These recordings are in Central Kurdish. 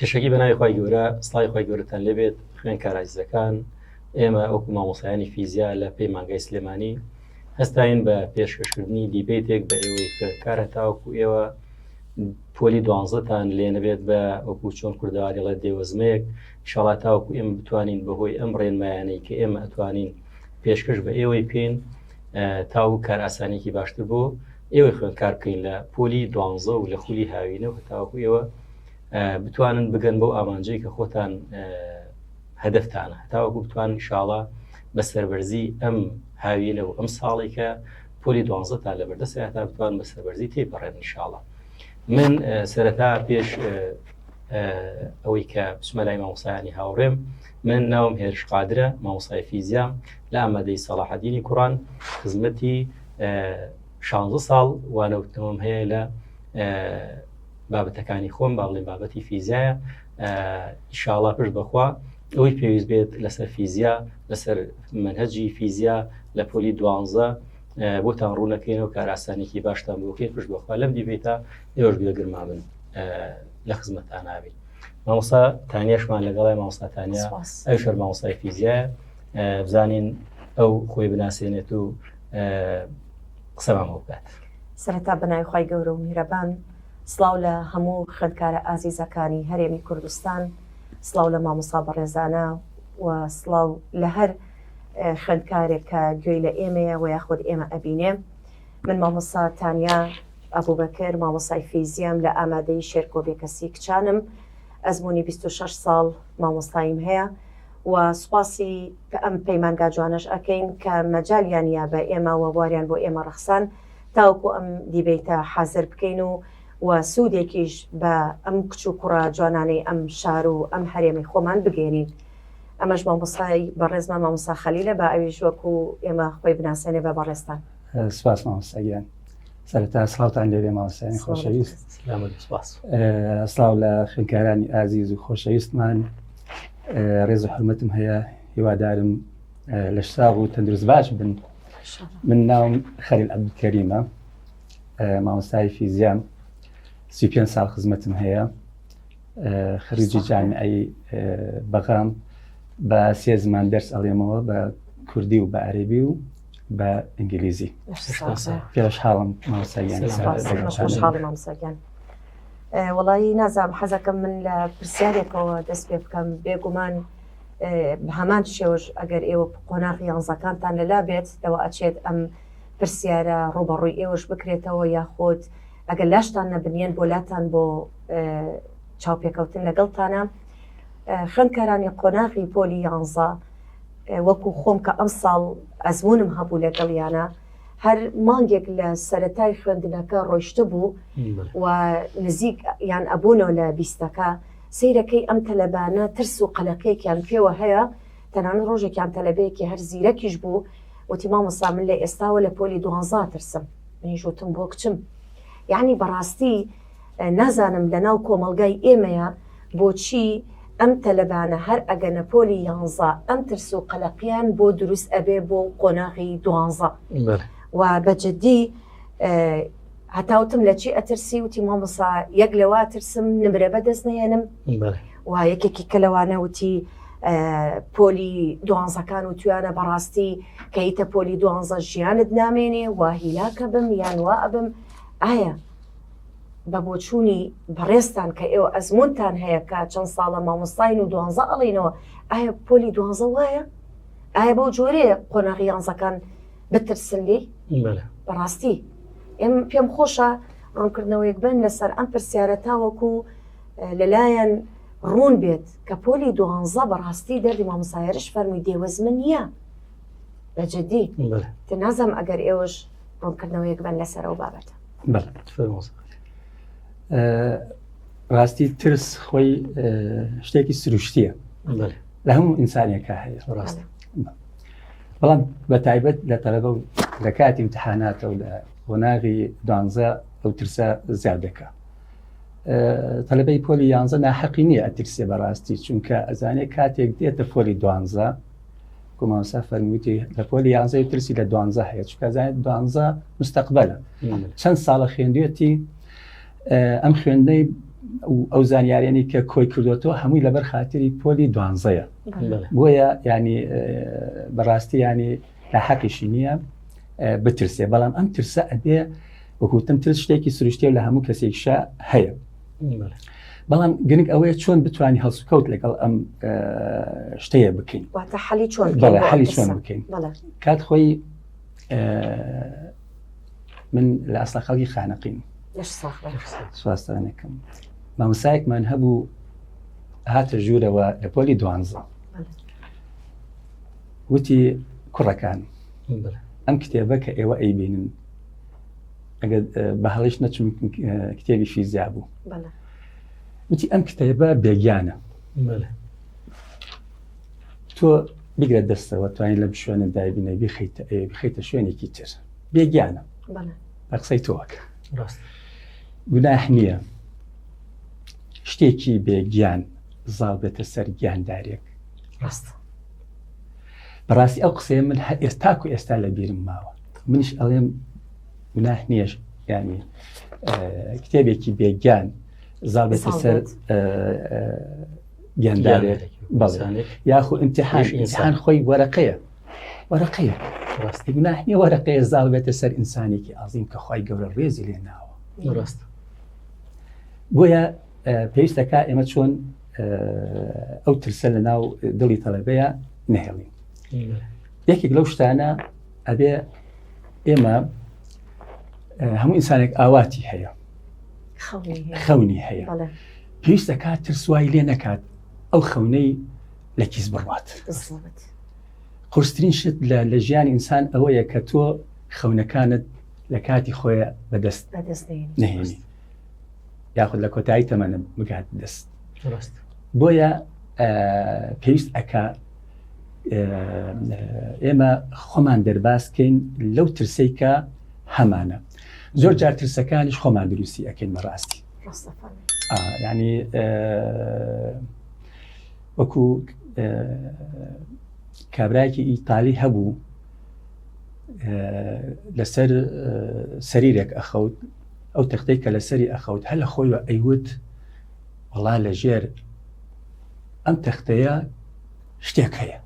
پێشەکی بە ناوی خی گەورە سڵی خی گەورەتان لێبێت خوێن کارایزەکان ئێمە ئەوکو مامۆسایانی فیزیا لە پەیمانگای سلێمانی هەستاین بە پێشکەشکردنی دیبێتێک بە ئێوەی خوێنکارە تاوەکو ئێوە پۆلی دوانزە تان لێ نەبێت بە وەکو چۆن کوردەواریڵێ دێوەزمەیەک شڵا تاوەکو ئێمە بتوانین بەهۆی ئەم ڕێنمایانەی کە ئێمە ئەتوانین پێشکەش بە ئێوەی بکەین تاو کار ئاسانێکی باشتر بۆ ئێوەی خوێندکار بکەین لە پۆلی دوانزە و لە خولی هاوینە و تاوەکو ئێوە بتوانن بگەن بەو ئامانجەی کە خۆتان هەدەفتانە تاوەکو بتوانن شاڵە بە سەربەرزی ئەم هاوینە و ئەم ساڵێکە پۆلی دوازدە تا لە بەردەست تا بتوان بە سەربەرزی تێ بڕێن انشاءڵە من سەرەتا پێش ئەوەی کە بسمەلای مامۆسایانی هاوڕێم من ناوم هێرش قادرە مامۆسای فیزیام لە ئامادەی سەڵاحدینی کوڕان خزمەتی 16 ساڵ وانەوتنەوەم هەیە لە بابەتەکانی خۆم با بڵێن بابەتی فیزایە ئیشاڵا پشت بخوا ئەوەی پێویست بێت لەسەر فیزیا لەسەر منهجی فیزیا لە پۆلی دوانزە بۆتان ڕوونەکەینەوە کاراسانێکی باشتان بۆکەی پشت بەخوا لەم دیبێتە ئێوەش بێگرما بن لە خزمەتان ناوێت مامۆستا تانیشمان لەگەڵای مامۆستاتانیا ئەو شەر مامۆستای فیزیە بزانین ئەو خۆی بناسێنێت و قسەمان بۆ بکات سەرتا بەناوی خی گەورە و میرەبان سلااو لە هەموو خوێندکارە ئازیزەکانی هەرێمی کوردستان سڵاو لە مامۆسا بەڕێزانە و سڵاو لە هەر خوێندکارێک کە گوێی لە ئێمەیە و یاخود ئێمە ئەبینێ من مامۆسا تانیا ئەبوبەکر مامۆسای فیزیام لە ئامادەی شێرکۆ بێکەسی کچانم ئەزمموی 26 ساڵ مامۆستاییم هەیە و سوپاسی ئەم پەیمانگا جوانەش ئەەکەین کە مەجالیان یا بە ئێمە وەبواریان بۆ ئێمە ڕەخسان تاوکو ئەم دیبیتە حازر بکەین و و سودێکیش بە ئەم کچ و کوڕە جوانانەی ئەم شار و ئەم هەرێمی خۆمان بگەیەنین. ئەمەش مامۆستای بەڕێزمان مامۆستا خەلیلە با ئەویش وەکو ئێمە خۆی بناسێنێ بە بەڕێزتان. سپاس مامۆستا گیان. سەرەتا سڵاوتان لێبێ مامۆستایانی خۆشەویست. سڵاو لە خوێندکارانی ئازیز و خۆشەویستمان ڕێز و حرمەتم هەیە هیوادارم لەش ساغ و تەندروست باش بن من ناوم خەلیل عەبدولکەریمە مامۆستای فیزیام سی پێ ساڵ خزمەتم هەیە خەریجی جانعی بەغام بە سێ زمان دەرس ئەڵێمەوە بە کوردی و بە عەربی و بە ئینگلیزی پێش حاڵم مامۆستاییان وڵی نازام حەزەکەم من لە پرسیارێکەوە دەست پێ بکەم بێگومان هەمان شێوەش ئەگەر ئێوە قۆناغی یانزەکانتان لەلا بێت لەوە ئەچێت ئەم پرسیارە ڕووبەڕووی ئێوەش بکرێتەوە یاخود ئەگەر لاشتان نەبنیەن بۆ لاتان بۆ چاوپێکەوتن لەگەڵتانە خوێندکارانی قۆناغی پۆلی یانزە وەکو خۆم کە ئەمساڵ ئەزمونم هەبوو لەگەڵیانە هەر مانگێک لە سەتای خوێندنەکە ڕۆشتە بوو و نزیک یان ئەبوونەوە لە بیستەکە سیرەکەی ئەم تەلەبانە ترس و قەلەقێکیان پێوە هەیە تەنان ڕۆژێکیان تەلەبەیەکی هەر زیرەکیش بوو وتی مامۆستا من لە ئێستاوە لە پۆلی دوانزە ئەترسم منیش وتم بۆ کچم یعنی بەڕاستی نازانم لە ناو کۆمەڵگای ئێمەیە بۆچی ئەم تەلەبانە هەر ئەگەنە پۆلی یانزە ئەم ترس و قەلەقیان بۆ دروست ئەبێ بۆ قۆناغی دوانزە و بە جدی هەتا وتم لە چی ئەترسی وتی مامۆسا یەک لەوا ترسم نمرە بەدەست نێنم و یەکێکی کە لەوانە وتی پۆلی دوانزەکان و تویانە بەڕاستی کە هیتە پۆلی دوانزە ژیانت نامێنێ و هیلاکە بم یان وا ئەبم ئایا بە بۆچوونی بەڕێستان کە ئێوە ئەزمونتان هەیە کە چەند ساڵە مامۆستاین و دوانزە ئەڵینەوە ئایا پۆلی دوانزە وایە ئایا بەو جۆرەیە قۆناغی یانزەکان بترسن لێی بەڕاستی ئێم پێم خۆشە ڕوونکردنەوەیەک بن لەسەر ئەم پرسیارە تاوەکو لەلایەن ڕوون بێت کە پۆلی دوانزە بەڕاستی دەردی مامسایرش فەرمووی دێوەزمە نییە بە جددی تە نازم ئەگەر ئێوەش ڕوونکردنەوەیەک بن لەسەرەوە بابەتە ڕاستی ترس خۆی شتێکی سروشتیە لە هەموو ئینسانێکە هەیە ڕاست بەڵام بە تایبەت لە تەلەبە و لە کاتی امتحاناتە و لە قۆناغی دوانزە ئەو ترسە زیاد دەکە تەلەبەی پۆلی یانزە ناحەقی نییە ئەترسێ بەڕاستی چونکە ئەزانێت کاتێک دێتە پۆلی دوانزە کوماسا فەرمووتی لە پۆلی یانزە و ترسی لە دوانزە هەیە چکە زانێت دوانزە مستەقبلە چەند ساڵە خوێندێتی ئەم خوێندنەی ئەو زانیارێنی کە کۆی کردوەوە هەمووی لەبەر خااتری پۆلی دوانزەیە بۆیە ینی بەڕاستی ینی لە حەقیشی نییە بترسێ بەڵام ئەم ترسە ئەبێ وەکوتم ترس شتێکی سروشتێ لە هەموو کەسێکشە هەیە بەڵام گرنگ ئەوەیە چۆن بتوانانی هەڵسوکەوت لەگەڵ ئەم شتەیە بکەین حالی چۆن بکەین کات خۆی من لە ئەستا خەڵکی خانەقیم سوستانەکەم مامسایەکمان هەبوو هاتە ژوورەوە لە پۆلی دوانزە وتی کوڕەکان ئەم کتێبە کە ئێوە ئەیبینن ئەگەر بە هەڵیش نەچون کتێبی فیزیا بوو وتی ئەم کتێبە بێگیانە تۆ بگرە دەستەوە توانین لەم شوێنە دایبنە بیخیتە ئەوێ بخیتە شوێنێکی تر بێگیانە بە قسەی تۆکە گوناح نییە شتێکی بێگیان زاڵ بێتە سەر گیاندارێک ڕاست بەڕاستی ئەو قسەیە من هە ئێستاک و ئێستا لە بیرم ماوە منیش ئەڵێم گوناح نییە ینی کتێبێکی بێگیان زاڵ بێتە سەر گیاندارێک بەڵێ یاخو امتحان ئینسان خۆی وەرەقەیە وەرەقەیە ڕاستی گوناهنی وەرەقەیە زاڵ بێتە سەر ئینسانێکی ئازیم کە خی گەورە ڕێزی لێ ناوە ڕاست بۆیە پێویستەکە ئێمە چۆن ئەو ترسە لە ناو دڵی تەڵەبەیە نهێڵین یەکێک لەو شتانە ئەبێ ئێمە هەموو ئینسانێک ئاواتی هەیە خەونی هەیە پێویستە کات ترسوای لێ نەکات ئەو خەونەی لە کیس بڕات قرسترین شت لە لە ژیانی ئینسان ئەوەیە کە تۆ خەونەکانت لە کاتی خۆیە بەدەست نهێنی یاخود لە کۆتایی تەمەنم بگات دەست بۆیە پێویست ئەکا ئێمە خۆمان دەرباسکەین لەو ترسەی کە هەمانە زۆر جار ترسەکانیش خۆمان دروستی ئەکەین بەڕاستی ینی وەکو کابراایکی ئیتالی هەبوو لەسەر سەریرێک ئەخەوت ئەو تەختەی کە لەسەری ئەخەوت هەل لە خۆی ئەیوت وڵا لە ژێر ئەم تەختەیە شتێک هەیە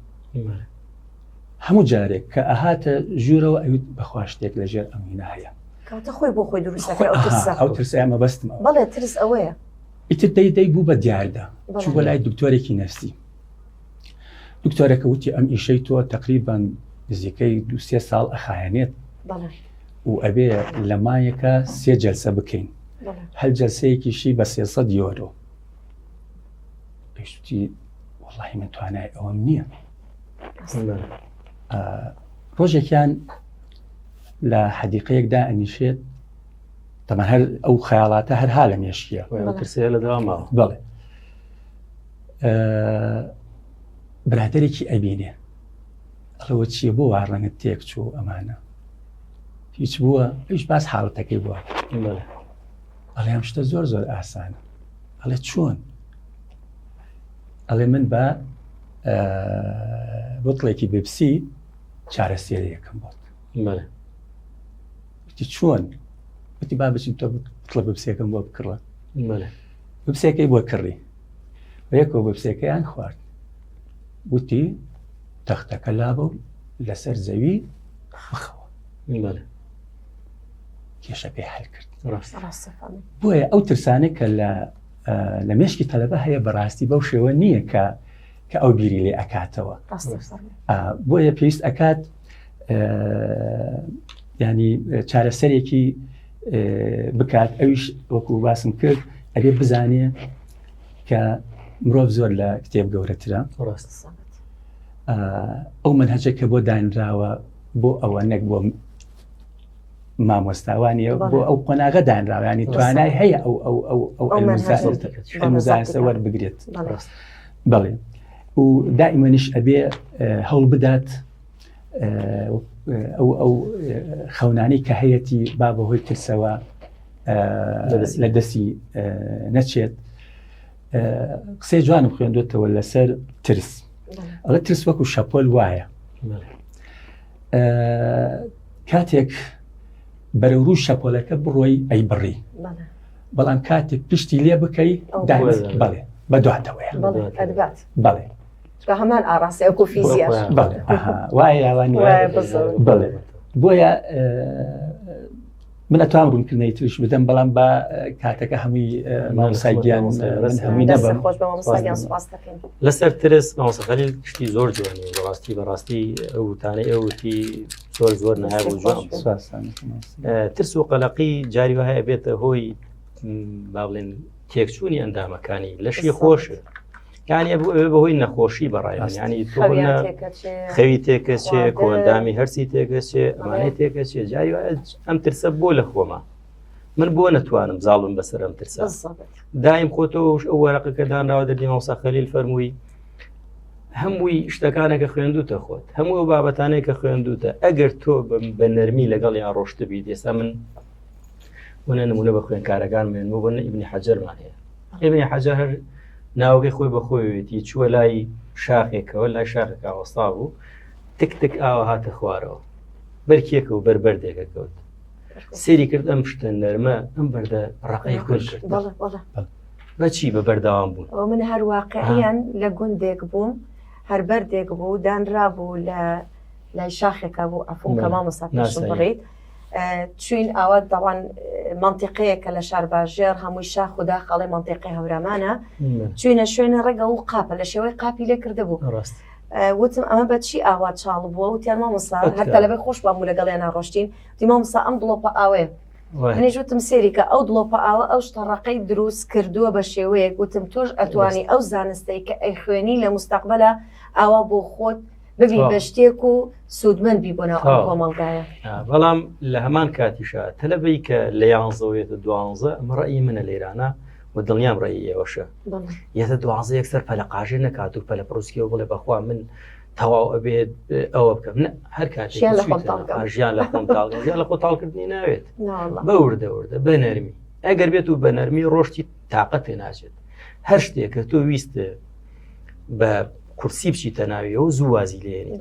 هەموو جارێک کە ئەهاتە ژوورەوە ئەویت بەخوا شتێک لە ژێر ئەم هینا هەیە کاتە خۆی بۆ خۆی دروست ئەو ترسە ئەمە بەستم بەڵێ ترس ئەوەیە ئیتر دەی دەی بوو بە دیاردە چوو بە لای دکتۆرێکی نەفسی دکتۆرەکە وتی ئەم ئیشەی تۆ تقریبان نزیکەی دوسێ ساڵ ئەخایەنێت و ئەبێ لە مایەکە سێ جەلسە بکەین هەل جەلسەیەکیشی بە سێسە دیۆرۆ پێشتی وڵی من توانای ئەوەم نییە ڕۆژێکیان لە حەدیقەیەکدا ئەنیشێت تەمە هەر ئەو خەیاڵاتە هەرها لە مێشکیە ترسەیە لە داواما بڵێ برادێکی ئەبینێ ئەڵەوە چیە بۆ وا ڕەنگت تێک چوو ئەمانە هیچ بووە هیچ باس حاڵەتەکەی بووە ئەڵێ ئەم شتە زۆر زۆر ئاسانە ئەڵێ چۆن ئەڵێ من بە بتڵێکی بپسی چارەسێریەکەم بۆت وتی چۆن وتی با بچین تۆ بتڵە بپسێکم بۆ بکڕە بپسێکەی بۆ کڕی وەیەکەوە بپسێکەیان خوارد وتی تەختەکە لابە لەسەر زەوی بخەوە کێشەکەی حل کرد بۆیە ئەو ترسانە کە لە لە مێشکی تەلەبە هەیە بەڕاستی بەو شێوە نییە کە کە ئەو بیری لێ ئەکاتەوە بۆیە پێویست ئەکات ینی چارەسەرێکی بکات ئەویش وەکو باسم کرد ئەبێ بزانێ کە مرۆڤ زۆر لە کتێب گەورەترە ئەو من هەچێک کە بۆ دانراوە بۆ ئەوە نەک بۆ مامۆستاوانە بۆ ئەو قۆناغە دانراوە ینی توانای هەیە ئەو ئەو ئەو ئەو ئەلمزانسە وەربگرێت بڵێ و دائیمەنیش ئەبێ هەوڵ بدات ئەو ئەو خەونانی کە هەیەی با بەهۆی ترسەوە لە دەستی نەچێت قسەی جوانم خوێندوێتەوە لەسەر ترس ئەڵە ترس وەکو شەپۆل وایە کاتێک بەرەو ڕوو شەپۆلەکە بڕۆی ئەی بڕی بەڵام کاتێک پشتی لێ بکەی بڵێ بە دواتەوەی بڵێ بە هەمان ئاڕاستی ئەو کۆفیزیە وایە یاوان بڵێ بۆیە من ئەتوام ڕوونکردنەی تریش بدەم بەڵام بە کاتەکە هەمووی مامۆسایگیان هەمووی نەبم لەسەر ترس مامۆسەخەلی شتی زۆر جوانی بەڕاستی بەڕاستی ئەو وتانەی ئەوتی زۆر زۆر نایاب و جوان ترس و قەلەقی جاری وهەیە بێتە هۆی با بڵێن تێکچوونی ئەندامەکانی لەشی خۆش یانی ئەبوو ئەوێ بەهۆی نەخۆشی بەڕایستانی خەوی تێکەچێ کۆندامی هەرسی تێکەچێ ئەمانەی تێکەچێ جای ئەم ترسە بۆ لە خۆمە من بۆ نەتوانم زاڵم بەسەر ئەم ترسە دایم خۆتەوەش ئەو وەرەقە کە دانراوە دەردی ماوسا خەلیل فەرمووی هەمووی شتەکانەکە خوێندوتە خۆت هەموو بابەتانەیە کە خوێندوتە ئەگەر تۆ بە نەرمی لەگەڵ یا ڕۆشتبی دێسا من وە نە نمونە بە خوێنکارەکان مێن بۆ بەنە ئیبنی حەجەرمان هەیە ئیبنی حەجە هەر ناوگەی خۆی بەخۆیەتی چووە لای شاخێکەوە لای شاخێکا وەستا بوو تک تک ئاوە هاتە خوارەوە بەرکێکە و بەربەردێکە کەوت سێری کرد ئەم شتە نەرمە ئەم بەردە ڕقی خوش کرد بەچی بە بەرداوام بوون ئەو من هەر واقعیان لە گوندێک بووم هەر بەردێک بوو دانرا بوو لە لای شاخێکە بوو ئەفۆکە مامۆسا بڕیت چوین ئاوات دەڵان منتیقەیە کە لە شار باژێر هەمووی شاخ و داخ ئەڵێ منتیقی هەورامانە چوینە شوێنە ڕێگە و قاپە لە شێوەی قاپی لێ کردە بوو ڕاست وتم ئەمە بە چی ئاوا چاڵ بووە و تیان مامۆسا هەر تەلەبە خۆش بام و لەگەڵ یان ناڕۆشتین دی مامۆسا ئەم دڵۆپە ئاوێ منیش وتم سێریکە ئەو دڵۆپە ئاوە ئەو شتەڕەقەی دروست کردووە بە شێوەیەک وتم تۆش ئەتوانی ئەو زانستەی کە ئەی خوێنی لە مستەقبلە ئاوا بۆ خۆت ببی بە شتێک و سوودمەند بی بۆناو کۆمەڵگایە بەڵام لە هەمان کاتیشە تەلەبەی کە لە یانزەوەێتە دوانزە ئەمە ڕێی منە لێرانە و دڵنیام ڕێی ئێوەشە یەتە دوازە یەکسەر پەلقاژێ نەکات و پەلە پرۆسکیەوە بڵێ بەخوا من تەواو ئەبێت ئەوە بکەم هەر کات ژیان لە خۆتاڵکردنی ناوێت بە وردەوردە بە نەرمی ئەگەر بێت و بە نەرمی ڕۆشتی تااقەت پێ ناچێت هەر شتێک کە تۆ ویست بە کورسی بچی تەناویەوە زوو وازی لێنی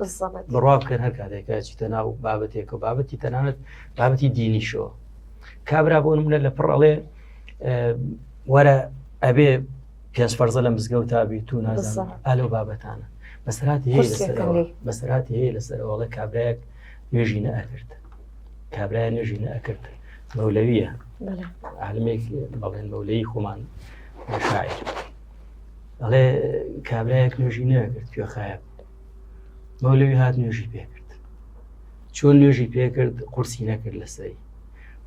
بڕوا بکەن هەر کاتێکە چیتە ناو بابەتێک و بابەتی تەنانەت بابەتی دینیشەوە کابرا بۆ منە لە پڕڵێ وەرە ئەبێ پێنج فەرزە لە مزگەوت تا بیت و نازان ئالۆ بابەتانە بەسرات بەسرات هەیە لەسەرەوەڵە کابراەک نوێژی نەکرد کابرای نوێژی نەکرد مەولەویە عالمێک بەڵێن مەولەی خۆمان شاعر ئەڵێ کابراایەک نوێژی نەکرد کوێخایە مەولەوی هات نوێژی پێکرد چۆن نوێژی پێکرد قورسی نەکرد لەسەری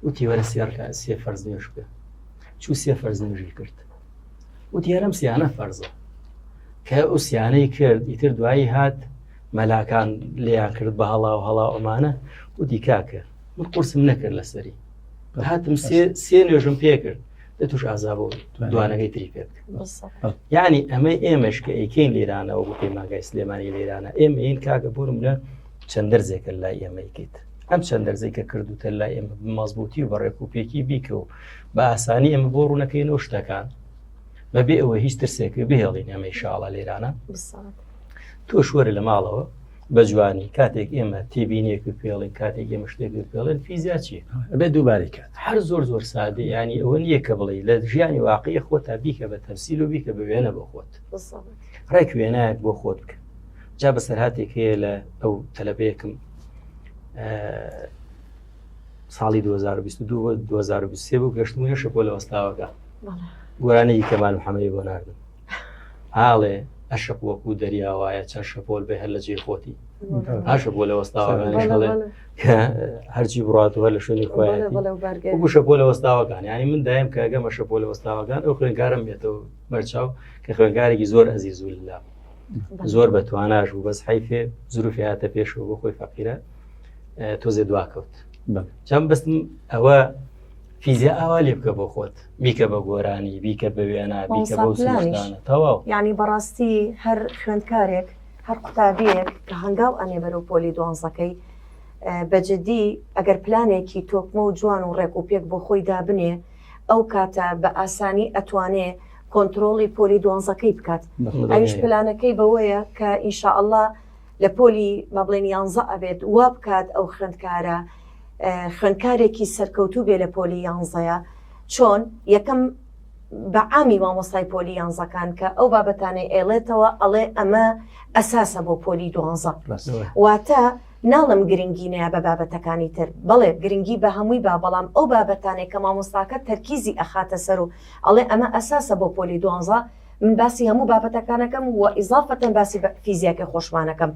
وتی وەرە سێڕکە سێ فەرز نوێش بکە چوو سێ فەرز نوێژی کرد وتی هەرم سیانە فەرزە کە ئوسیانەی کرد ئیتر دوایی هات مەلاکان لێیان کرد بە هەڵا و هەڵا ئەمانە وتی کاکە من قورسم نەکرد لەسەری هاتم سێ نوێژم پێکرد لە توش ئازا بۆ دوانەکەی تری پێ یعنی ئەمە ئێمەش کە ئەیکەین لێرانەوە بۆ پەیماگای سلێمانی لێرانە ئێمە این کاکە بۆرم لە چەند دەرزێکە لای ئێمەیکیت ئەم چەند دەرزەی کە کردوتە لای ئێمە مەزبوتی و بەڕێک و پێکی بیکە و بە ئاسانی ئەمە بۆ ڕوونەکەی نۆ شتەکان بەبێ ئەوە هیچ ترسێک بهێڵین ئەمە شاڵە لێرانە تۆش وەرە لە ماڵەوە بە جوانی کاتێک ئێمە تێبینێک و پێڵێن کاتێک ئێمە شتێک و پێڵێن فیزیا چی ئەبێ دووبارەی کات هەر زۆر زۆر سادە ینی ئەوە نییە کە بڵێ لە ژیانی واقعی خۆ تا بیکە بە تەمسیل و بیکە بە وێنە بۆ خۆت ڕێک وێنایەک بۆ خۆت بکە جا بەسەر هااتێک هەیە لە ئەو تەلەبەیەکم ساڵی 2022 2023 بوو گەشتمونە شەپۆ لە وەستاوەکە گۆرانەی کەمان و حەمەی بۆ ناردن ئاڵێ ئەشق وەکوو دەریا وایە چەند شەپۆل بێ هەر لە جێی خۆتی هاشە بۆ لە وەستاوەکانیش هەڵێ هەرچی بڕاتوە لە شوێنی خۆیان وەکو شەپۆ لە وەستاوەکان ینی من دایم کە گەمە شەپۆ لە وەستاوەکان ئەو خوێنکارم بێتەوە بەرچاو کە خوێنکارێکی زۆر ئەزی زول لە زۆر بە تواناش بوو بەس حیفێ زروفی هاتە پێشەوە بۆ خۆی فەقیرە تۆزێ دواکەوت چەند بستم ئەوە فیزیا ئاوا لێ بکە بۆ خۆت بیکە بە گۆرانی بیکە بە وێنا بیکە بەو سلانە تەواو یعنی بەڕاستی هەر خوێندکارێک هەر قوتابیەک کە هەنگاو ئەنێ بەرەو پۆلی دوانزەکەی بەجددی ئەگەر پلانێکی تۆکمە و جوان و ڕێک و پێک بۆ خۆی دابنێ ئەو کاتە بە ئاسانی ئەتوانێ کۆنتترۆڵی پۆلی دوانزەکەی بکات ئەوش پلانەکەی بەوەیە کە ئینشاءله لە پۆلی با بڵێن یانزە ئەبێت وا بکات ئەو خوێندکارە خوێندکارێکی سەرکەوتوو بێ لە پۆلی یانزەیە چۆن یەکەم بە عامی مامۆستای پۆلی یانزەکان کە ئەو بابەتانەی ئێڵێتەوە ئەڵێ ئەمە ئەساسە بۆ پۆلی دوانزە واتە ناڵم گرنگی نەیە بە بابەتەکانی تر بەڵێ گرنگی بە هەمووی با بەڵام ئەو بابەتانێک کە مامۆستاکە تەرکیزی ئەخاتە سەر و ئەڵێ ئەمە ئەساسە بۆ پۆلی دوانزە من باسی هەموو بابەتەکانەکەم وە ئیزافەتەن باسی فیزیاکە خۆشمانەکەم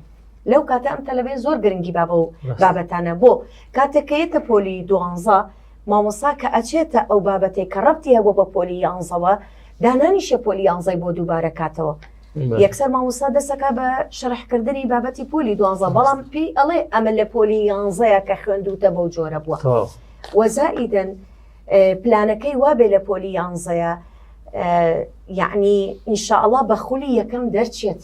لەو کاتە ئەم تەلەبێ زۆر گرنگی بابە و بابەتانە بۆ کاتێکەیەتە پۆلی دوانزە مامۆسا کە ئەچێتە ئەو بابەتێک کە ڕەتی هەبوو بە پۆلی یانزەوە دانانی شەپۆلی یانزای بۆ دووبارە کاتەوە یەکسەر مامۆستا دەسەکە بە شەرحکردنی بابەتی پۆلی دوانزە بەڵام پێی ئەڵێ ئەمە لە پۆلی یانزەیە کە خوێندوتە بەو جۆرە بووە وەزائیدن پلانەکەی وابێ لە پۆلی یانزەیە یعنی ئینشاءله بە خولی یەکەم دەرچێت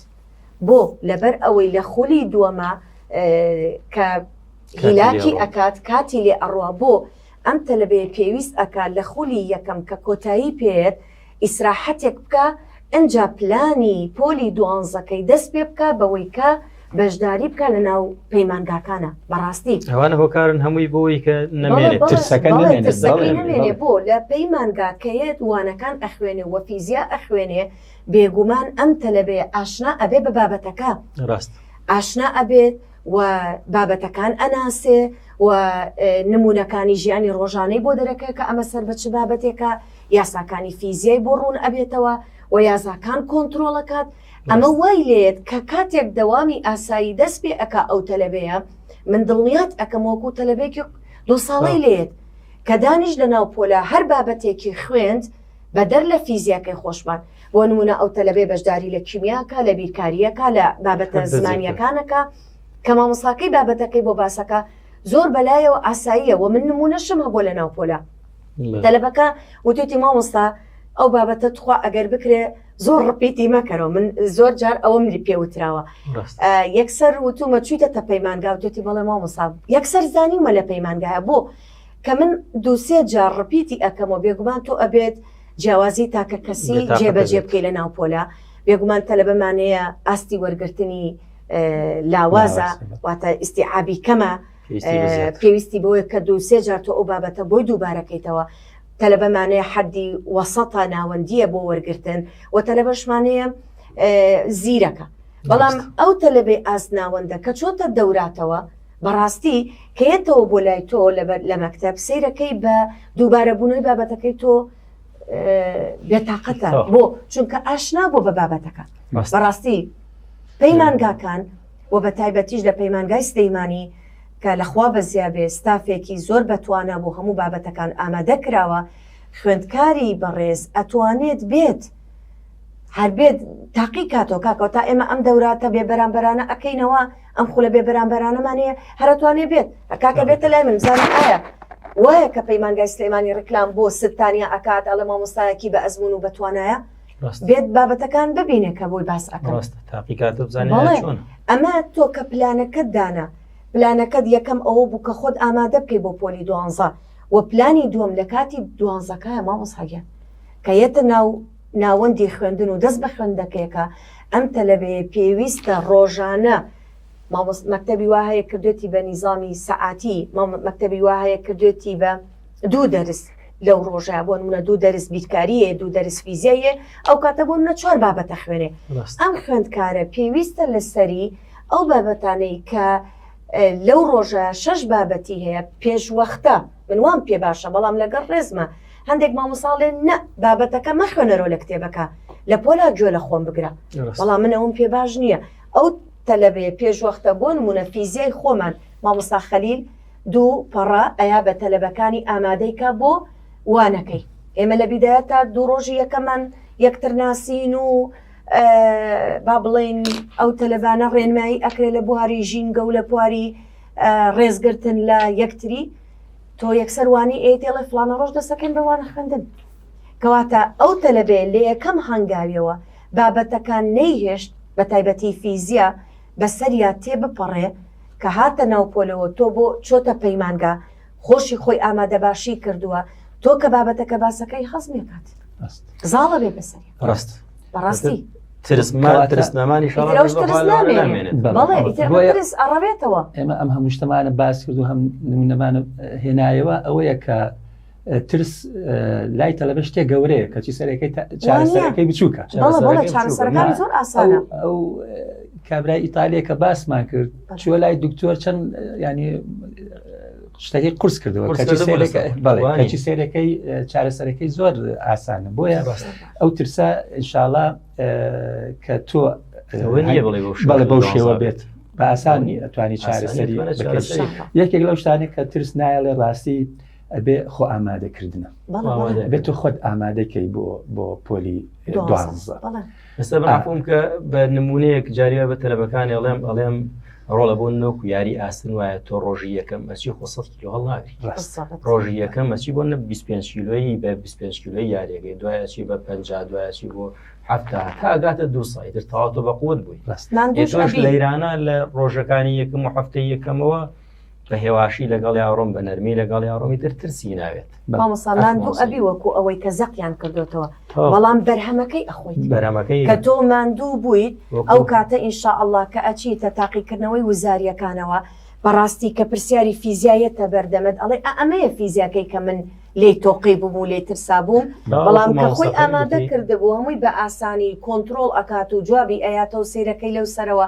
بۆ لەبەر ئەوەی لە خولی دووەمە کە هیلاکی ئەکات کاتی لێ ئەڕوا بۆ ئەم تەلبەیە پێویست ئەکات لە خولی یەکەم کە کۆتایی پێێت ئیسراحەتێک بکە ئنجا پلانی پۆلی دوانزەکەی دەست پێ بکە بەوەی کە بەشداری بکە لە ناو پەیمانگاکانە بەڕاستی ئەوانە هۆکارن هەمووی بۆی کە نەمێنێت ترسەکە نەمێنێ بۆ لە پەیمانگاکەیەت وانەکان ئەخوێنێ و فیزیا ئەخوێنێ بێگومان ئەم تەلەبێ ئاشنا ئەبێ بە بابەتەکە ڕاست ئاشنا ئەبێت و بابەتەکان ئەناسێ و نمونونەکانی ژیانی ڕۆژانەی بۆ دەرەکە کە ئەمە سەر بە چ بابەتێکە یاساکانی فیزیای بۆ ڕوون ئەبێتەوە و یاساکان کۆنتترۆڵەکات ئەمە وای لێت کە کاتێک دەوامی ئاسایی دەست پێ ئەک ئەو تەلەبەیە من دڵنیات ئەەکەم وەکو تەلەبێکی دو ساڵی لێت کە دانیش لە ناو پۆلا هەر بابەتێکی خوێند بەدەر لە فیزیاکەی خۆشمان، بۆ نموونە ئەو تەلەبەی بەشداری لە کیمیا ئەکا، لە بیرکاری ئەکا، لە بابەتە زمانییەکان ئەکا، کە مامۆستاکەی بابەتەکەی بۆ باس ئەکا، زۆر بە لایەوە ئاساییە و من نموونەشم هەبووە لە ناو پۆلە، تەلەبەکە وتویەتی مامۆستا ئەو بابەتە توخوا ئەگەر بکرێ زۆر ڕپیتی مەکەرەوە، من زۆر جار ئەوەم لێ پێ وتراوە. یەکسەر وتوومە چوویتەتە پەیمانگا؟ وتویەتی بەڵێ مامۆستا، یەکسەر زانیومە لە پەیمانگایە، بۆ؟ کە من دوو سێ جار ڕپیتی ئەکەم و بێگومان تۆ ئەبێت جیاوازی تاکە کەسی جێبەجێ بکەی لە ناو پۆلا بێگومان تەلەبەمانەیە ئاستی وەرگرتنی لاوازە واتە ئیسیعابی کەمە پێویستی بۆیە کە دوو سێ جار تۆ ئەو بابەتە بۆی دووبارەکەیتەوە تەلەبەمانەیە حەدی وەسەتا ناوەندیە بۆ وەرگتن و تەلەبەشمانەیە زیرەکە بەڵام ئەو تەلەبێ ئاست ناوەندە کە چۆتە دەوراتەوە بەڕاستی کەیەتەوە بۆ لای تۆ لە مەکتب سیرەکەی بە دووبارە بوونەوەی بابەتەکەی تۆ بێتاقەتە بۆ چونکە ئاشنا بۆ بە بابەتەکە بەڕاستی پەیمانگاکان و بە تایبەتیش لە پەیمانگای سلەیمانی کە لەخوا بەزیابێ ستافێکی زۆر بەتوانە بۆ هەموو بابەتەکان ئامادە کراوە خوێندکاری بەڕێز ئەتوانێت بێت هەربێت تاقی کاتۆ کاکەوە تا ئێمە ئەم دەوراتە بێ بەرامبەرانە ئەەکەینەوە ئەم خولە بێ بەرامبەرانەمان هەیە هەرتوانێ بێت کاکە بێتە لای من بزانم ئایا وایە کە پەیمانگای سلێمانی ڕکلام بۆ ستانیا ئەکات ئەڵە مامۆستایەکی بە ئەزمون و بەتوانایە بێت بابەتەکان ببینێ کە بۆی باس ئەمە تۆ کە پلانەکەت دانا پلانەکەت یەکەم ئەوە بوو کە خۆت ئامادە بکەی بۆ پۆلی دوانزە و پلانی دووەم لە کاتی دوانزەکە مامۆساگیان کە یەتە ناو ناوەندی خوێندن و دەست بە خوێندەکەیەکە ئەم تەلەبەیە پێویستە ڕۆژانە مامۆس مەکتەبی وا هەیە کردوێتی بە نیزامی سەعاتی مام مەکتەبی وا هەیە کردوێتی بە دوو دەرس لەو ڕۆژە بۆ نمونە دوو دەرس بیرکاریە دوو دەرس فیزیایە ئەو کاتە بۆ منە چوار بابەتە خوێنێ ڕاست ئەم خوێندکارە پێویستە لەسەری ئەو بابەتانەی کە لەو ڕۆژە شەش بابەتی هەیە پێشوەختە من وام پێ باشە بەڵام لەگەڵ ڕێزما هەندێک مامۆسا ڵێن نە بابەتەکە مەخوێنەرۆ لە کتێبەکە لە پۆلا گوێ لە خۆم بگرە بەڵام من ئەوم پێ باش نییە ئەو تەلەبێ پێشوەختە بۆ نمونە فیزیای خۆمان مامۆسا خەلیل دوو پەڕە ئەیا بە تەلەبەکانی ئامادەیکە بۆ وانەکەی ئێمە لە بیدایە تا دوو ڕۆژی یەکەمان یەکتر ناسین و با بڵین ئەو تەلەبانە ڕێنمایی ئەکرێ لە بواری ژینگە و لە پواری ڕێزگرتن لە یەکتری تۆ یەکسەر وانی ئەی دێڵێ فلانە ڕۆژ دەسەکەن بەوانە خوێندن کەواتە ئەو تەلەبێ لە یەکەم هەنگاویەوە بابەتەکان نەیهێشت بە تایبەتی فیزیا بەسەریا تێ بپەڕێ کە هاتە ناوپۆلەوە تۆ بۆ چۆتە پەیمانگا خۆشی خۆی ئامادەباشی کردووە تۆ کە بابەتەکە باسەکەی هەزمێکات زاڵە بێ بەسەری ڕاست بەڕاستی ئەڕەوێتەوە ئێمە ئەم هەموو شتەمانە باس کرد و هەم نمونەمانە هێنایەوە ئەوەیە کە ترس لای تەلەبە شتێ گەورەیە کەچی سەرەکەی چارەسەرەکەی بچووکە ئەو کابرای ئیتالیا کە باسمان کرد چوە لای دکتۆر چەند ینی شتەکەی قرس کردەوە کەچی سێرەکەی چارەسەرەکەی زۆر ئاسانە بۆیە ئەو ترسا انشاءله کە تۆ بەڵێ بەو شێوە بێت بە ئاسانی ئەتوانی چارەسەری یەکێک لەو شتانی کە ترس نایڵێ ڕاستی ئەبێ خۆ ئامادەکردنە بێت تۆ خۆت ئامادەکەی بۆ بۆ پۆلی دوازە. ئێستا بەعفوم کە بە نمونەیەک جاری بە تەلەبەکانی ئەڵێم ئەڵێم ڕۆڵە بۆ نۆک و یاری ئاستن وایە تۆ ڕۆژی یەکەم ئەچی خۆ سە کیلو هەڵناگری ڕۆژی یەکەم ئەچی بۆ نە 25 کیلۆیی بە 25 کیلۆی یاریەکەی دوایەچی بە پ دوایەچی بۆ هەفتا تاگاتە دو سایتر تاواتۆ بە قوت بووی لە ئێرانە لە ڕۆژەکانی یەکەم و هەفتەی یەکەمەوە بە هێواشی لەگەڵ یاڕۆم بە نەرمی لەگەڵ یاڕۆمی تر ترسی ناوێت بەمەساڵان دوو ئەبی وەکو ئەوەی کە زەقیان کردوتەوە بەڵام بەرهەمەکەی ئەخۆیت بەرەمەکەی کە تۆ ماندوو بوویت ئەو کاتە ئینشا ئەله کە ئەچیتە تاقیکردنەوەی وزاریەکانەوە بەڕاستی کە پرسیاری فیزیایەتە بەردەمت ئەڵێ ئەمەیە فیزیاکەی کە من لی تۆقی ببوو لی ترسا بووم بەڵام کە خۆی ئامادە کردبوو هەمووی بە ئاسانی کۆنتترۆل ئەکات و جوابی ئەیاتەوە سیرەکەی لەو سەرەوە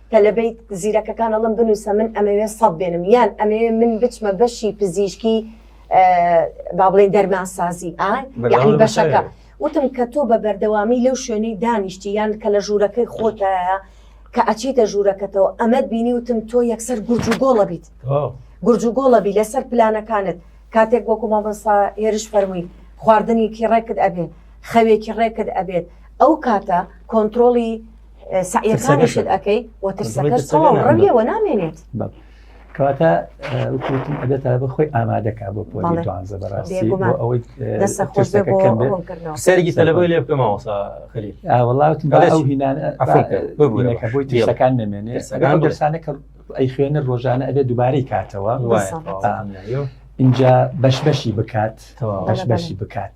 تەلەبەی زیرەکەکان ئەڵم بنووسە من ئەمەوێ سەد بێنم یان ئەمەوێ من بچمە بەشی پزیشکی با بڵێن دەرماسازی ئای یعنی بەشەکە وتم کە تۆ بە بەردەوامی لەو شوێنەی دانیشتی یان کە لە ژوورەکەی خۆتایە کە ئەچیتە ژوورەکەتەوە ئەمەد بینی وتم تۆ یەکسەر گورج و گۆڵە بیت گورج و گۆڵە بی لەسەر پلانەکانت کاتێک وەکو مامۆستا هێرش فەرمووی خواردنێکی ڕێکت ئەبێت خەوێکی ڕێکت ئەبێت ئەو کاتە کۆنتترۆڵی سعیەکانیشت ئەەکەی وە ترسەکەش تەواو ڕەویەوە نامێنێت کەواتە وتم ئەبێت تا بخۆی ئامادەکە بۆ پۆلی دوانزە بەڕاستی بۆ ئەوەی دەسە خۆش سەرگی تەلەبەی لێ بکەم ئەوسا خەلی ئاوەڵاوتم ئەو هینانە ببوورەکە بۆی تیشەکان نەمێنێ ئەگەر دەرسانە کە ئەی خوێنە ڕۆژانە ئەبێت دووبارەی کاتەوە اینجا بەش بەشی بکات بەش بەشی بکات